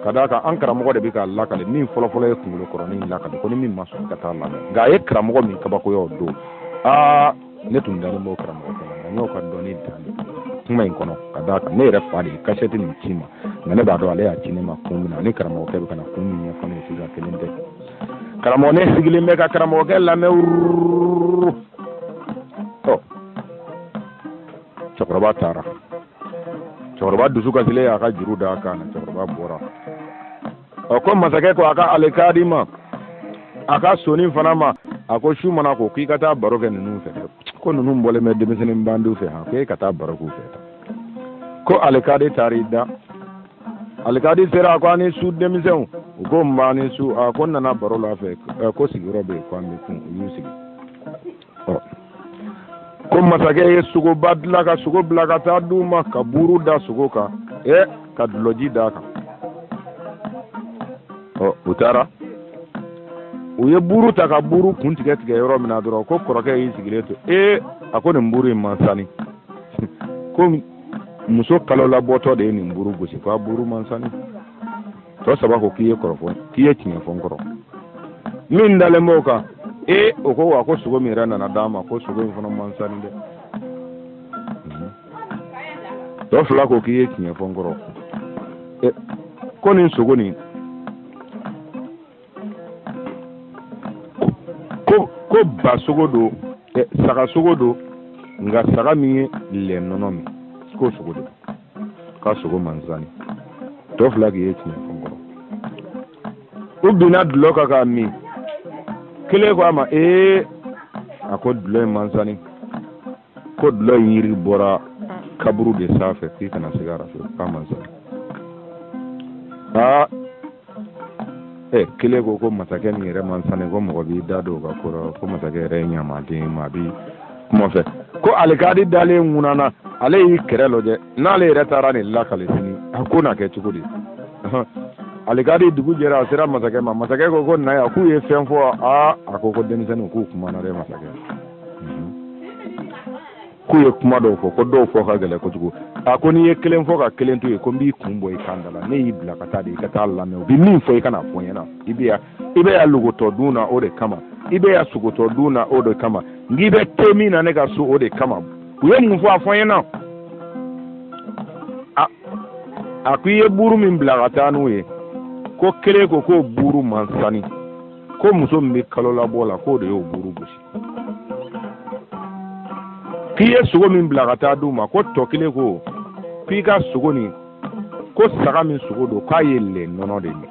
ka d'a kan an karamɔgɔ de bɛ k'a lakale min fɔlɔfɔlɔ ye kunkolo kɔrɔnin lakale ko ni min ma sɔn ka taa lamɛn nka a ye karamɔgɔ min kabakoya o don aa ne tun dalen b'o karamɔgɔ kɔnɔ nka n y'o ka dɔnni dan de kuma in kɔnɔ ka d'a kan ne yɛrɛ fa de ye kasɛti nin ci n ma nka ne b'a dɔn ale y'a ci ne ma kun min na ani karamɔgɔkɛ bɛ ka na kun min ɲɛfɔ ne ye sisan kelen tɛ karamɔgɔ ne sigilen bɛ ka karamɔgɔkɛ lamɛn wururu ɔ cɛkɔrɔba taara cɛkɔrɔba dusu kasilen y'a ka juru d'a kan na cɛkɔrɔba bɔra ɔ ko masakɛ ko a ka alikaadi ma a ka soni fana ma a ko su mana ko k'i ka taa baro kɛ ninnu fɛ ko ninnu bɔlen bɛ denmisɛnnin bandiw fɛ han ko e ka taa baro k'u fɛ ko alikaadi taara i da alikaadi sera a ko a ni su denmisɛnw u ko nba a ni su a ko n nana baro l'a fɛ ko sigiyɔrɔ bɛ yen ko an bɛ kun u y'u sigi ko masakɛ ye sogoba dilan ka sogo bila ka taa d'u ma ka buuru da sogo kan ɛ ka dulɔji d'a kan ɔ u taara u ye buuru ta ka buuru kun tigɛ tigɛ yɔrɔ min na dɔrɔn ko kɔrɔkɛ y'i sigilen to ee a ko nin buuru in man sani ko muso kalolabɔtɔ de ye nin buuru gosi ko a buuru man sani tɔ saba ko k'i ye kɔrɔfɔ k'i ye tiɲɛ fɔ n kɔrɔ min dalen b'o kan ee o ko wa ko sogo min yɛrɛ nana d'a ma ko sogo in fana man sani dɛ tɔ fila ko k'i ye tiɲɛ fɔ n kɔrɔ ko nin sogo nin ko ko ba sogo don saga sogo don nka saga min ye lɛ nɔnɔ min k'o sogo don k'a sogo man sani tɔ fila k'i ye tiɲɛ fɔ n kɔrɔ u binna dulɔ kan k'a min kelen ko a ma ee a ko dulɔ in man sani ko dulɔ in yiri bɔra kaburu de sanfɛ k'i kana segin a fɛ k'a man sani ɛ kelen ko ko masakɛ nin yɛrɛ man sani ko mɔgɔ b'i da don o ka ko la ko masakɛ yɛrɛ ye ɲamaden ye maa bi kuma fɛ ko alikadi dalen ŋunana ale y'i kɛrɛ lajɛ n'ale yɛrɛ taara nin lakale sini a ko na kɛ cogo di alikadi dugu jɛra a sera masakɛ ma masakɛ ko ko na yan k'u ye fɛn fɔ aa a ko ko denmisɛnninw k'u kumana dɛ masakɛ k'u ye kuma dɔw fɔ ko dɔw fɔ ka gɛlɛ kojugu a ko n'i ye kelen fɔ ka kelen to yen ko n b'i kun bɔ i kan da la ne y'i bila ka taa de i ka taa lamɛn u bɛ min fɔ i ka n'a fɔ n ɲɛna i bɛ yan i bɛ yan logotɔ dun na o de kama i bɛ yan sogotɔ dun na o de kama n'i bɛ te min na ne ka so o de kama u ye mun fɔ a fɔ n ɲɛna a a ko i ye buuru min bila ka taa n'u ye ko kelen ko k'o buuru man sani ko muso min bɛ kalo labɔ la k'o de y'o buuru gosi k'i ye sogo min bila ka taa di u ma ko tɔ kelen ko k'i ka sogo nin ko saga min sogo don k'a ye lɛ nɔnɔ de min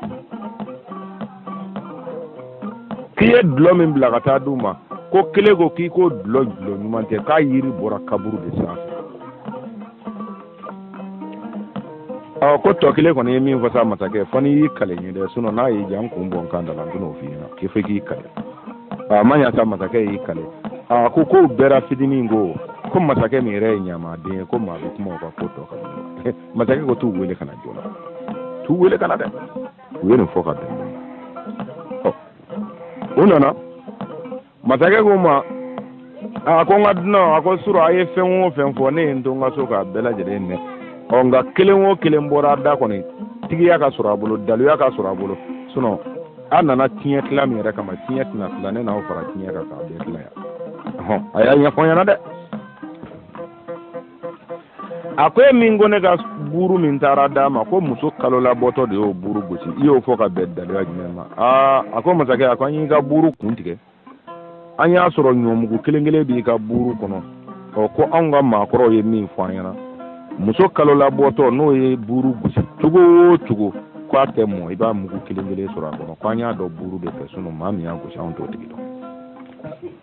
k'i ye dulɔ min bila ka taa di u ma ko kelen ko k'i ko dulɔ dulɔ ɲuman tɛ k'a yiri bɔra kaburu de sanfɛ ɔ ko tɔ kelen kɔni ye min fɔ sa masakɛ fɔ n'i y'i kale ɲɛ dɛ sinɔn n'a y'i diya n kun bɔ n kan da la n tɛn'o f'i ɲɛna k'i fɔ k'i kale a ma ɲa sa masakɛ y'i kale a ko k'u bɛɛ ra fitinin ko ko masakɛ nin yɛrɛ ye ɲamaden ye ko maa bɛ kuma u ka ko tɔ kan masakɛ ko t'u wele ka na joona t'u wele ka na dɛ u ye nin fɔ ka bɛn ɔ u nana masakɛ k'u ma a ko n ka dunan a ko sura a ye fɛn o fɛn fɔ ne ye n to n ka so k'a bɛɛ lajɛlen mɛn ɔ nka kelen o kelen bɔra da kɔni tigiya ka sɔrɔ a bolo daluya ka sɔrɔ a bolo sinɔn a nana tiɲɛ tila min yɛrɛ kama tiɲɛ tɛna tila ne n'aw fara tiɲɛ kan k'a bɛɛ tila yan a y'a ɲɛfɔ n ɲɛna dɛ a ko e min ko ne ka buuru min taara d'a ma ko muso kalo labɔtɔ de y'o buuru gosi i y'o fɔ ka bɛn daliya jumɛn ma aa a ko masakɛ a ko an y'i ka buuru kun tigɛ an y'a sɔrɔ ɲɔmugu kelen kelen b'i ka buuru kɔnɔ ɔ ko anw ka maakɔrɔw ye min fɔ an ɲɛna muso kalo labɔtɔ n'o ye buuru gosi cogo o cogo ko a tɛ mɔ i b'a mugu kelen kelen sɔrɔ a kɔnɔ ko an y'a dɔn buuru de fɛ sinɔn maa min y'a gosi anw t'o tigi dɔn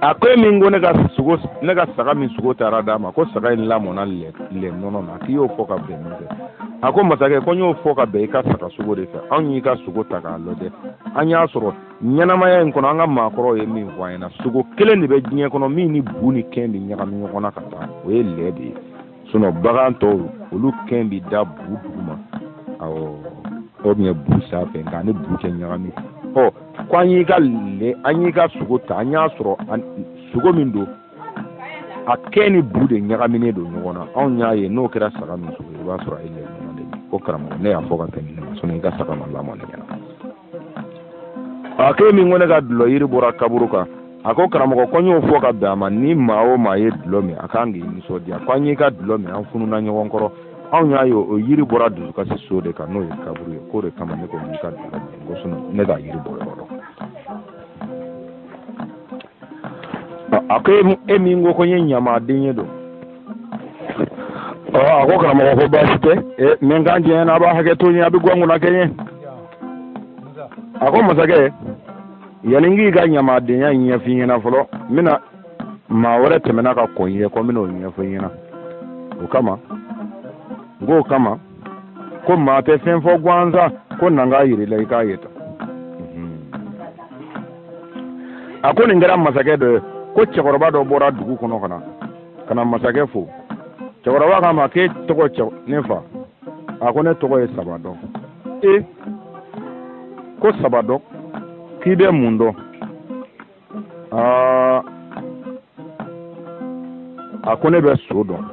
a ko e min ko ne ka sogo ne ka saga min sogo taara d'a ma ko saga in lamɔna lɛ lɛ nɔnɔ na k'i y'o fɔ ka bɛn min fɛ a ko masakɛ ko n y'o fɔ ka bɛn i ka saga sogo de fɛ anw y'i ka sogo ta k'a lajɛ an y'a sɔrɔ ɲɛnamaya in kɔnɔ an ka maakɔrɔw ye min fɔ an ɲɛna sogo kelen de bɛ diɲɛ kɔnɔ min ni bu ni kɛn bɛ ɲagami ɲɔgɔn na ka taa o ye lɛ de ye sinɔn bagan tɔw olu kɛn bi da bu duguma awɔ o bɛ bu sanfɛ nka a ni bu tɛ ɲagami ɔ ko an y'i ka le an y'i ka sogo ta an y'a sɔrɔ sogo min don a kɛn ni bu de ɲagaminen don ɲɔgɔn na anw y'a ye n'o kɛra saga min sogo i b'a sɔrɔ a ye lɛ ko karamɔgɔ ne y'a fɔ ka tɛmɛ ne ma sinɔn i ka saga ma lamɔ ne ɲɛna a k'e min ko ne ka dulɔ yiri bɔra kaburu kan a ko karamɔgɔ ko n y'o fɔ ka bɛn a ma ni maa o maa ye dulɔ min a ka kan k'i nisɔndiya ko an y'i ka dulɔ min an fununa ɲɔgɔn kɔrɔ anw y'a ye o yiri bɔra dusukasi so de kan n'o ye kaburu ye k'o de kama ne ko n y'i ka dulɔ min ko sinɔn ne t'a yiri bɔ yɔrɔ dɔn a ko e min ko ko n ye ɲamaden ye don a ko karamɔgɔ ko baasi tɛ mɛ n kan jɛɲɛ na a b'a hakɛ to n ye a bɛ guwan kunna kɛ n ye a ko masakɛ yanni n k'i ka ɲamadenya ɲɛfɔ i ɲɛna fɔlɔ n bɛna maa wɛrɛ tɛmɛna ka kɔn i ye ko n bɛna o ɲɛfɔ i ɲɛna o kama n k'o kama ko maa tɛ fɛn fɔ gansan ko na n k'a yir'i la i k'a ye tan a ko nin kɛra masakɛ dɔ ye ko cɛkɔrɔba dɔ bɔra dugu kɔnɔ ka na ka na masakɛ fo cɛkɔrɔba k'a ma k'e tɔgɔ cɛ ne fa a ko ne tɔgɔ ye sabadɔn e ko sabadɔn k'i bɛ mun dɔn aa a ko ne bɛ so dɔn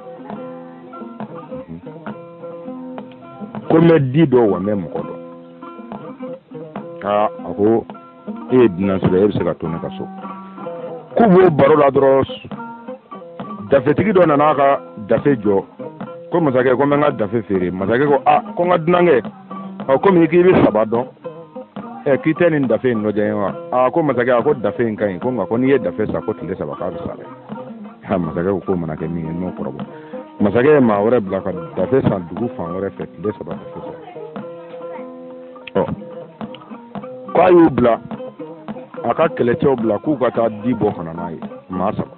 ko n bɛ di dɔn wa n bɛ mɔgɔ dɔn aa a ko e ye dunan sira e bɛ se ka to ne ka so k'u b'o baro la dɔrɔn dafetigi dɔ nana ka dafe jɔ ko masakɛ ko n bɛ n ka dafe feere masakɛ ko a ko n ka dunankɛ ɔ komi k'i bɛ saba dɔn ɛ k'i tɛ nin dafe in lajɛ wa a ko masakɛ a ko dafe in ka ɲi ko nka ko n'i ye dafe san ko tile saba k'a bɛ sa dɛ ha masakɛ ko k'o mana kɛ min ye n'o kɔrɔbɔ masakɛ ye maa wɛrɛ bila ka dafe san dugu fan wɛrɛ fɛ tile saba dafe sa ɔ k'a y'u bila a ka kɛlɛcɛw bila k'u ka taa di bɔ ka na n'a ye maa saba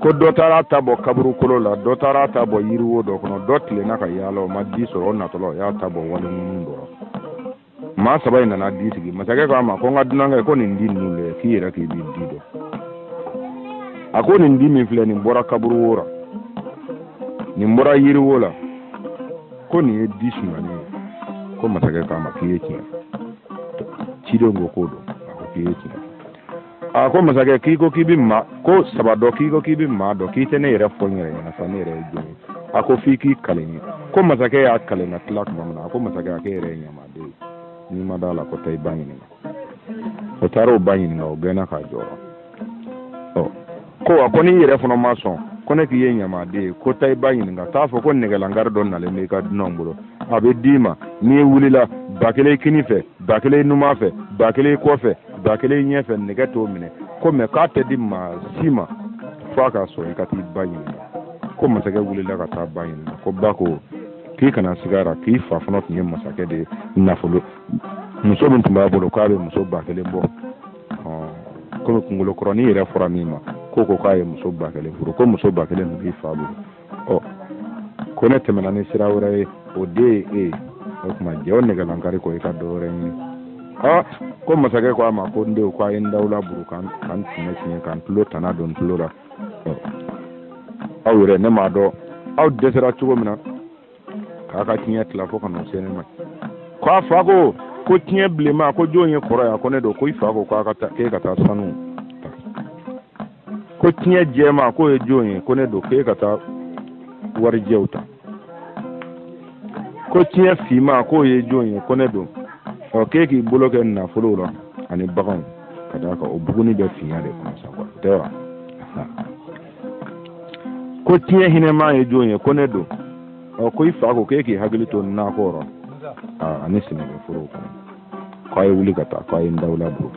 ko dɔ taara ta bɔ kaburu kolo la dɔ taara ta bɔ yiriwo dɔ kɔnɔ dɔ tilenna ka yaala o ma di sɔrɔ o natɔla o y'a ta bɔ wali ŋunu dɔ la maa saba in nana di sigi masakɛ ko a ma ko n ka dunankɛ ko nin di ninnu lajɛ k'i yɛrɛ k'i bɛ di dɔn a ko nin di min filɛ nin bɔra kaburu wo la nin bɔra yiriwo la ko nin ye di sumanen ye ko masakɛ k'a ma k'i ye tiɲɛ cidenw ko k'o don a ko k'i ye tiɲɛ a ko masakɛ k'i ko k'i bɛ maa ko saba dɔn k'i ko k'i bɛ maa dɔn k'i tɛ ne yɛrɛ fɔ n yɛrɛ ɲɛna sa ne yɛrɛ ye jɔn ye a ko f'i k'i kali n ye ko masakɛ y'a kali ka tila tuma min na a ko masakɛ a k'e yɛrɛ ye ɲamaden ye n'i ma d'a la ko taa i ba ɲininka o taara o ba ɲininka o gɛnna k'a jɔ ɔ ko wa ko n'i yɛrɛ fana ma sɔn ko ne k'i ye ɲamaden ye ko taa i ba ɲininka t'a fɔ ko nɛgɛlankari dɔ nalen b'i ka dunanw bolo a bɛ d'i ma n'i wulila ba kelen kini fɛ ba kelen numan fɛ ba kelen kɔfɛ ba kelen ɲɛfɛ nɛgɛ t'o minɛ ko mɛ k'a tɛ di maa si ma f'a k'a sɔrɔ i ka t'i ba ɲininka ko masakɛ wulila ka taa ba ɲininka ko ba ko k'i kana siga a ra k'i fa fana tun ye masakɛ de ye nafolo muso min tun b'a bolo k'a bɛ muso ba kelen bɔ komi kunkolo kɔrɔnin yɛrɛ fɔra min ma ko ko k'a ye muso ba kelen furu ko muso ba kelen tun b'i fa bolo ɔ ko ne tɛmɛna ni sira wɛrɛ ye o de ye e ye o tuma jɛ o nɛgɛlankari kɔ i ka dɔ wɛrɛ ɲini ɔ ko masakɛ ko a ma ko n denw ko a ye n dawula burun ka n tiɲɛ tiɲɛ ka n tulo tana don n tulo la aw yɛrɛ ne m'a dɔn aw dɛsɛra cogo min na k'a ka tiɲɛ tila fo ka na se ne ma ko a fa ko ko tiɲɛ bilenma ko jɔn ye kɔrɔ ye ko ne don ko i fa ko k'a ka taa k'e ka taa sanu ta ko tiɲɛ jɛma k'o ye jɔn ye ko ne don k'e ka taa warijɛw ta ko tiɲɛ finma k'o ye jɔn ye ko ne don ɔ k'e k'i bolo kɛ nafolow la ani baganw ka d'a kan o buguni bɛ finya de kɔnɔ sa tɛ wa ko tiɲɛ hinɛma ye jɔn ye ko ne don ɔ ko i fa ko k'e k'i hakili to nakɔ rɔ ani sɛnɛkɛforow kɔnɔ k'a ye wuli ka taa k'a ye n dawula bolo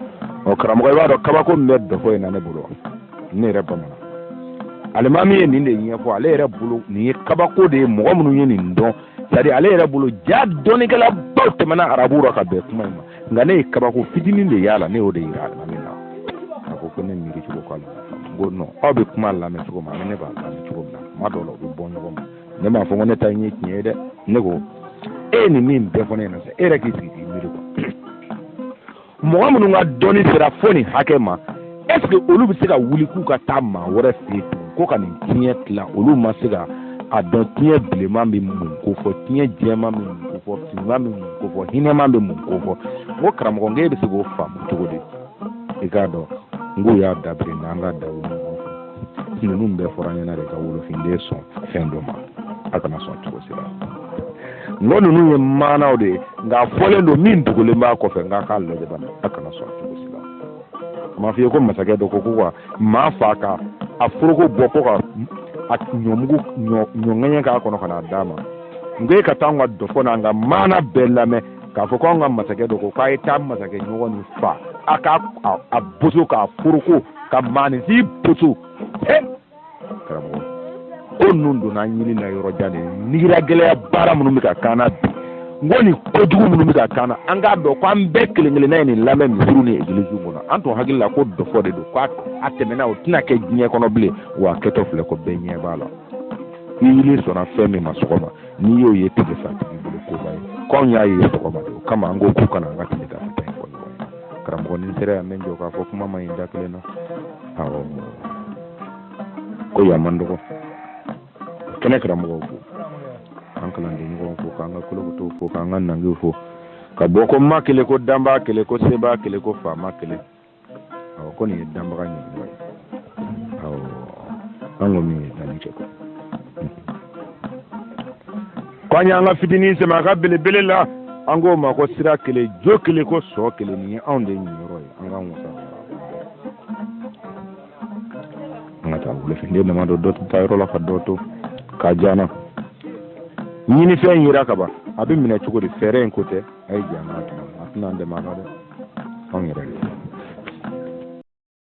ɔ karamɔgɔ i b'a dɔn kabako min bɛ dɔfɔ in na ne bolo ne yɛrɛ bamanan alimami ye nin de ɲɛfɔ ale yɛrɛ bolo nin ye kabako de ye mɔgɔ minnu ye nin dɔn c'est-à-dire ale yɛrɛ bolo ja dɔnnikɛlabaw tɛmɛna arabu rɔ ka bɛn kuma in ma nka ne ye kabako fitinin de y'a la ne y'o de yira alimami na a ko ko ne miiri cogo ko alimami n ko non aw bɛ kuma lamɛn cogo min ani ne b'a lamɛn cogo min na kuma dɔw la u bɛ bɔ ɲɔgɔn ma ne m'a fɔ ko ne ta in ye tiɲɛ ye dɛ ne ko e ye nin min bɛɛ fɔ ne ɲɛna sa e yɛrɛ k'i sigi k'i miiri quoi mɔgɔ minnu ka dɔnni sera fo nin hakɛ ma est ce que olu bɛ se ka wuli k'u ka taa maa wɛrɛ fɛ yen tugun ko ka nin tiɲɛ tila olu ma se ka a dɔn tiɲɛ bilenman bɛ mun kofɔ tiɲɛ jɛman bɛ mun kofɔ finman bɛ mun kofɔ hinɛman bɛ mun kofɔ n ko karamɔgɔ n ko e bɛ se k'o faamu cogo di i k'a dɔn n k'u y'a dabiri n'an ka dawu ninnu bɛɛ fɔra an ɲɛna de ka wolofinden sɔn fɛn dɔ ma a kana sɔn cogo si la n ko ninnu ye maanaw de ye nka a fɔlen don min dogolen b'a kɔfɛ n k'a k'a lajɛ bana a kana sɔn cogo si la a ma f'i ye ko masakɛ dɔ ko ko ka maa faa ka a foroko bɔ ko ka ɲɔmugu ɲɔɲɛɲɛ k'a kɔnɔ ka n'a d'a ma n ko e ka taa an ka dɔfɔ n'an ka maana bɛɛ lamɛn k'a fɔ ko an ka masakɛ dɔ ko k'a ye taa masakɛ ɲɔgɔn nin faa a k'a boso k'a foroko ka maaninfin boso he karamɔgɔ ko ninnu donna an yili la yɔrɔ jan de nigira gɛlɛya baara minnu bɛ ka k'an na bi n ko nin kojugu minnu bɛ ka k'an na an k'a dɔn ko an bɛɛ kelen kelenna ye nin lamɛn misiriw ni egiliziw kɔnɔ an tun hakili la ko dɔfɔ de don ko a tɛmɛna o tɛna kɛ diɲɛ kɔnɔ bilen wa a kɛtɔ filɛ ko bɛɛ ɲɛ b'a la i yili sɔnna fɛn min ma sɔgɔma n'i y'o ye tile fɛ a tigi bolo koba ye ko anw y'a ye sɔgɔma de o kama an ko k'u kana an ka tile ka fita in fɔ ɲɔgɔn ye karamɔgɔ ni sera yan n bɛ jɔ k'a fɔ kuma man ɲi da kelen na awɔ ko yan man dɔgɔ kɛnɛ karamɔgɔw fo an kalanden ɲɔgɔn fo k'an ka kolokotow fo k'an ka nangiw fo ka bɔ ko ma kelen ko danbaa kelen ko sebaa kelen ko faama kelen awɔ ko nin ye danbaga ɲɛmɔgɔ ye awɔ an ko min ye danni kɛ ko an y'an ka fitinin sɛmɛ a ka belebele la an k'o ma ko sira kelen jo kelen ko sɔ kelen nin ye anw de ɲinyɔrɔ ye an k'an wasa an ka taa wolofinden dama don dɔ tɛ taa yɔrɔ la ka dɔ to k'a diya n na ɲinifɛn yera kaban a bɛ minɛ cogo di fɛɛrɛ in ko tɛ a ye jɛ an k'a tuma a tɛna an dɛmɛ a la dɛ anw yɛrɛ de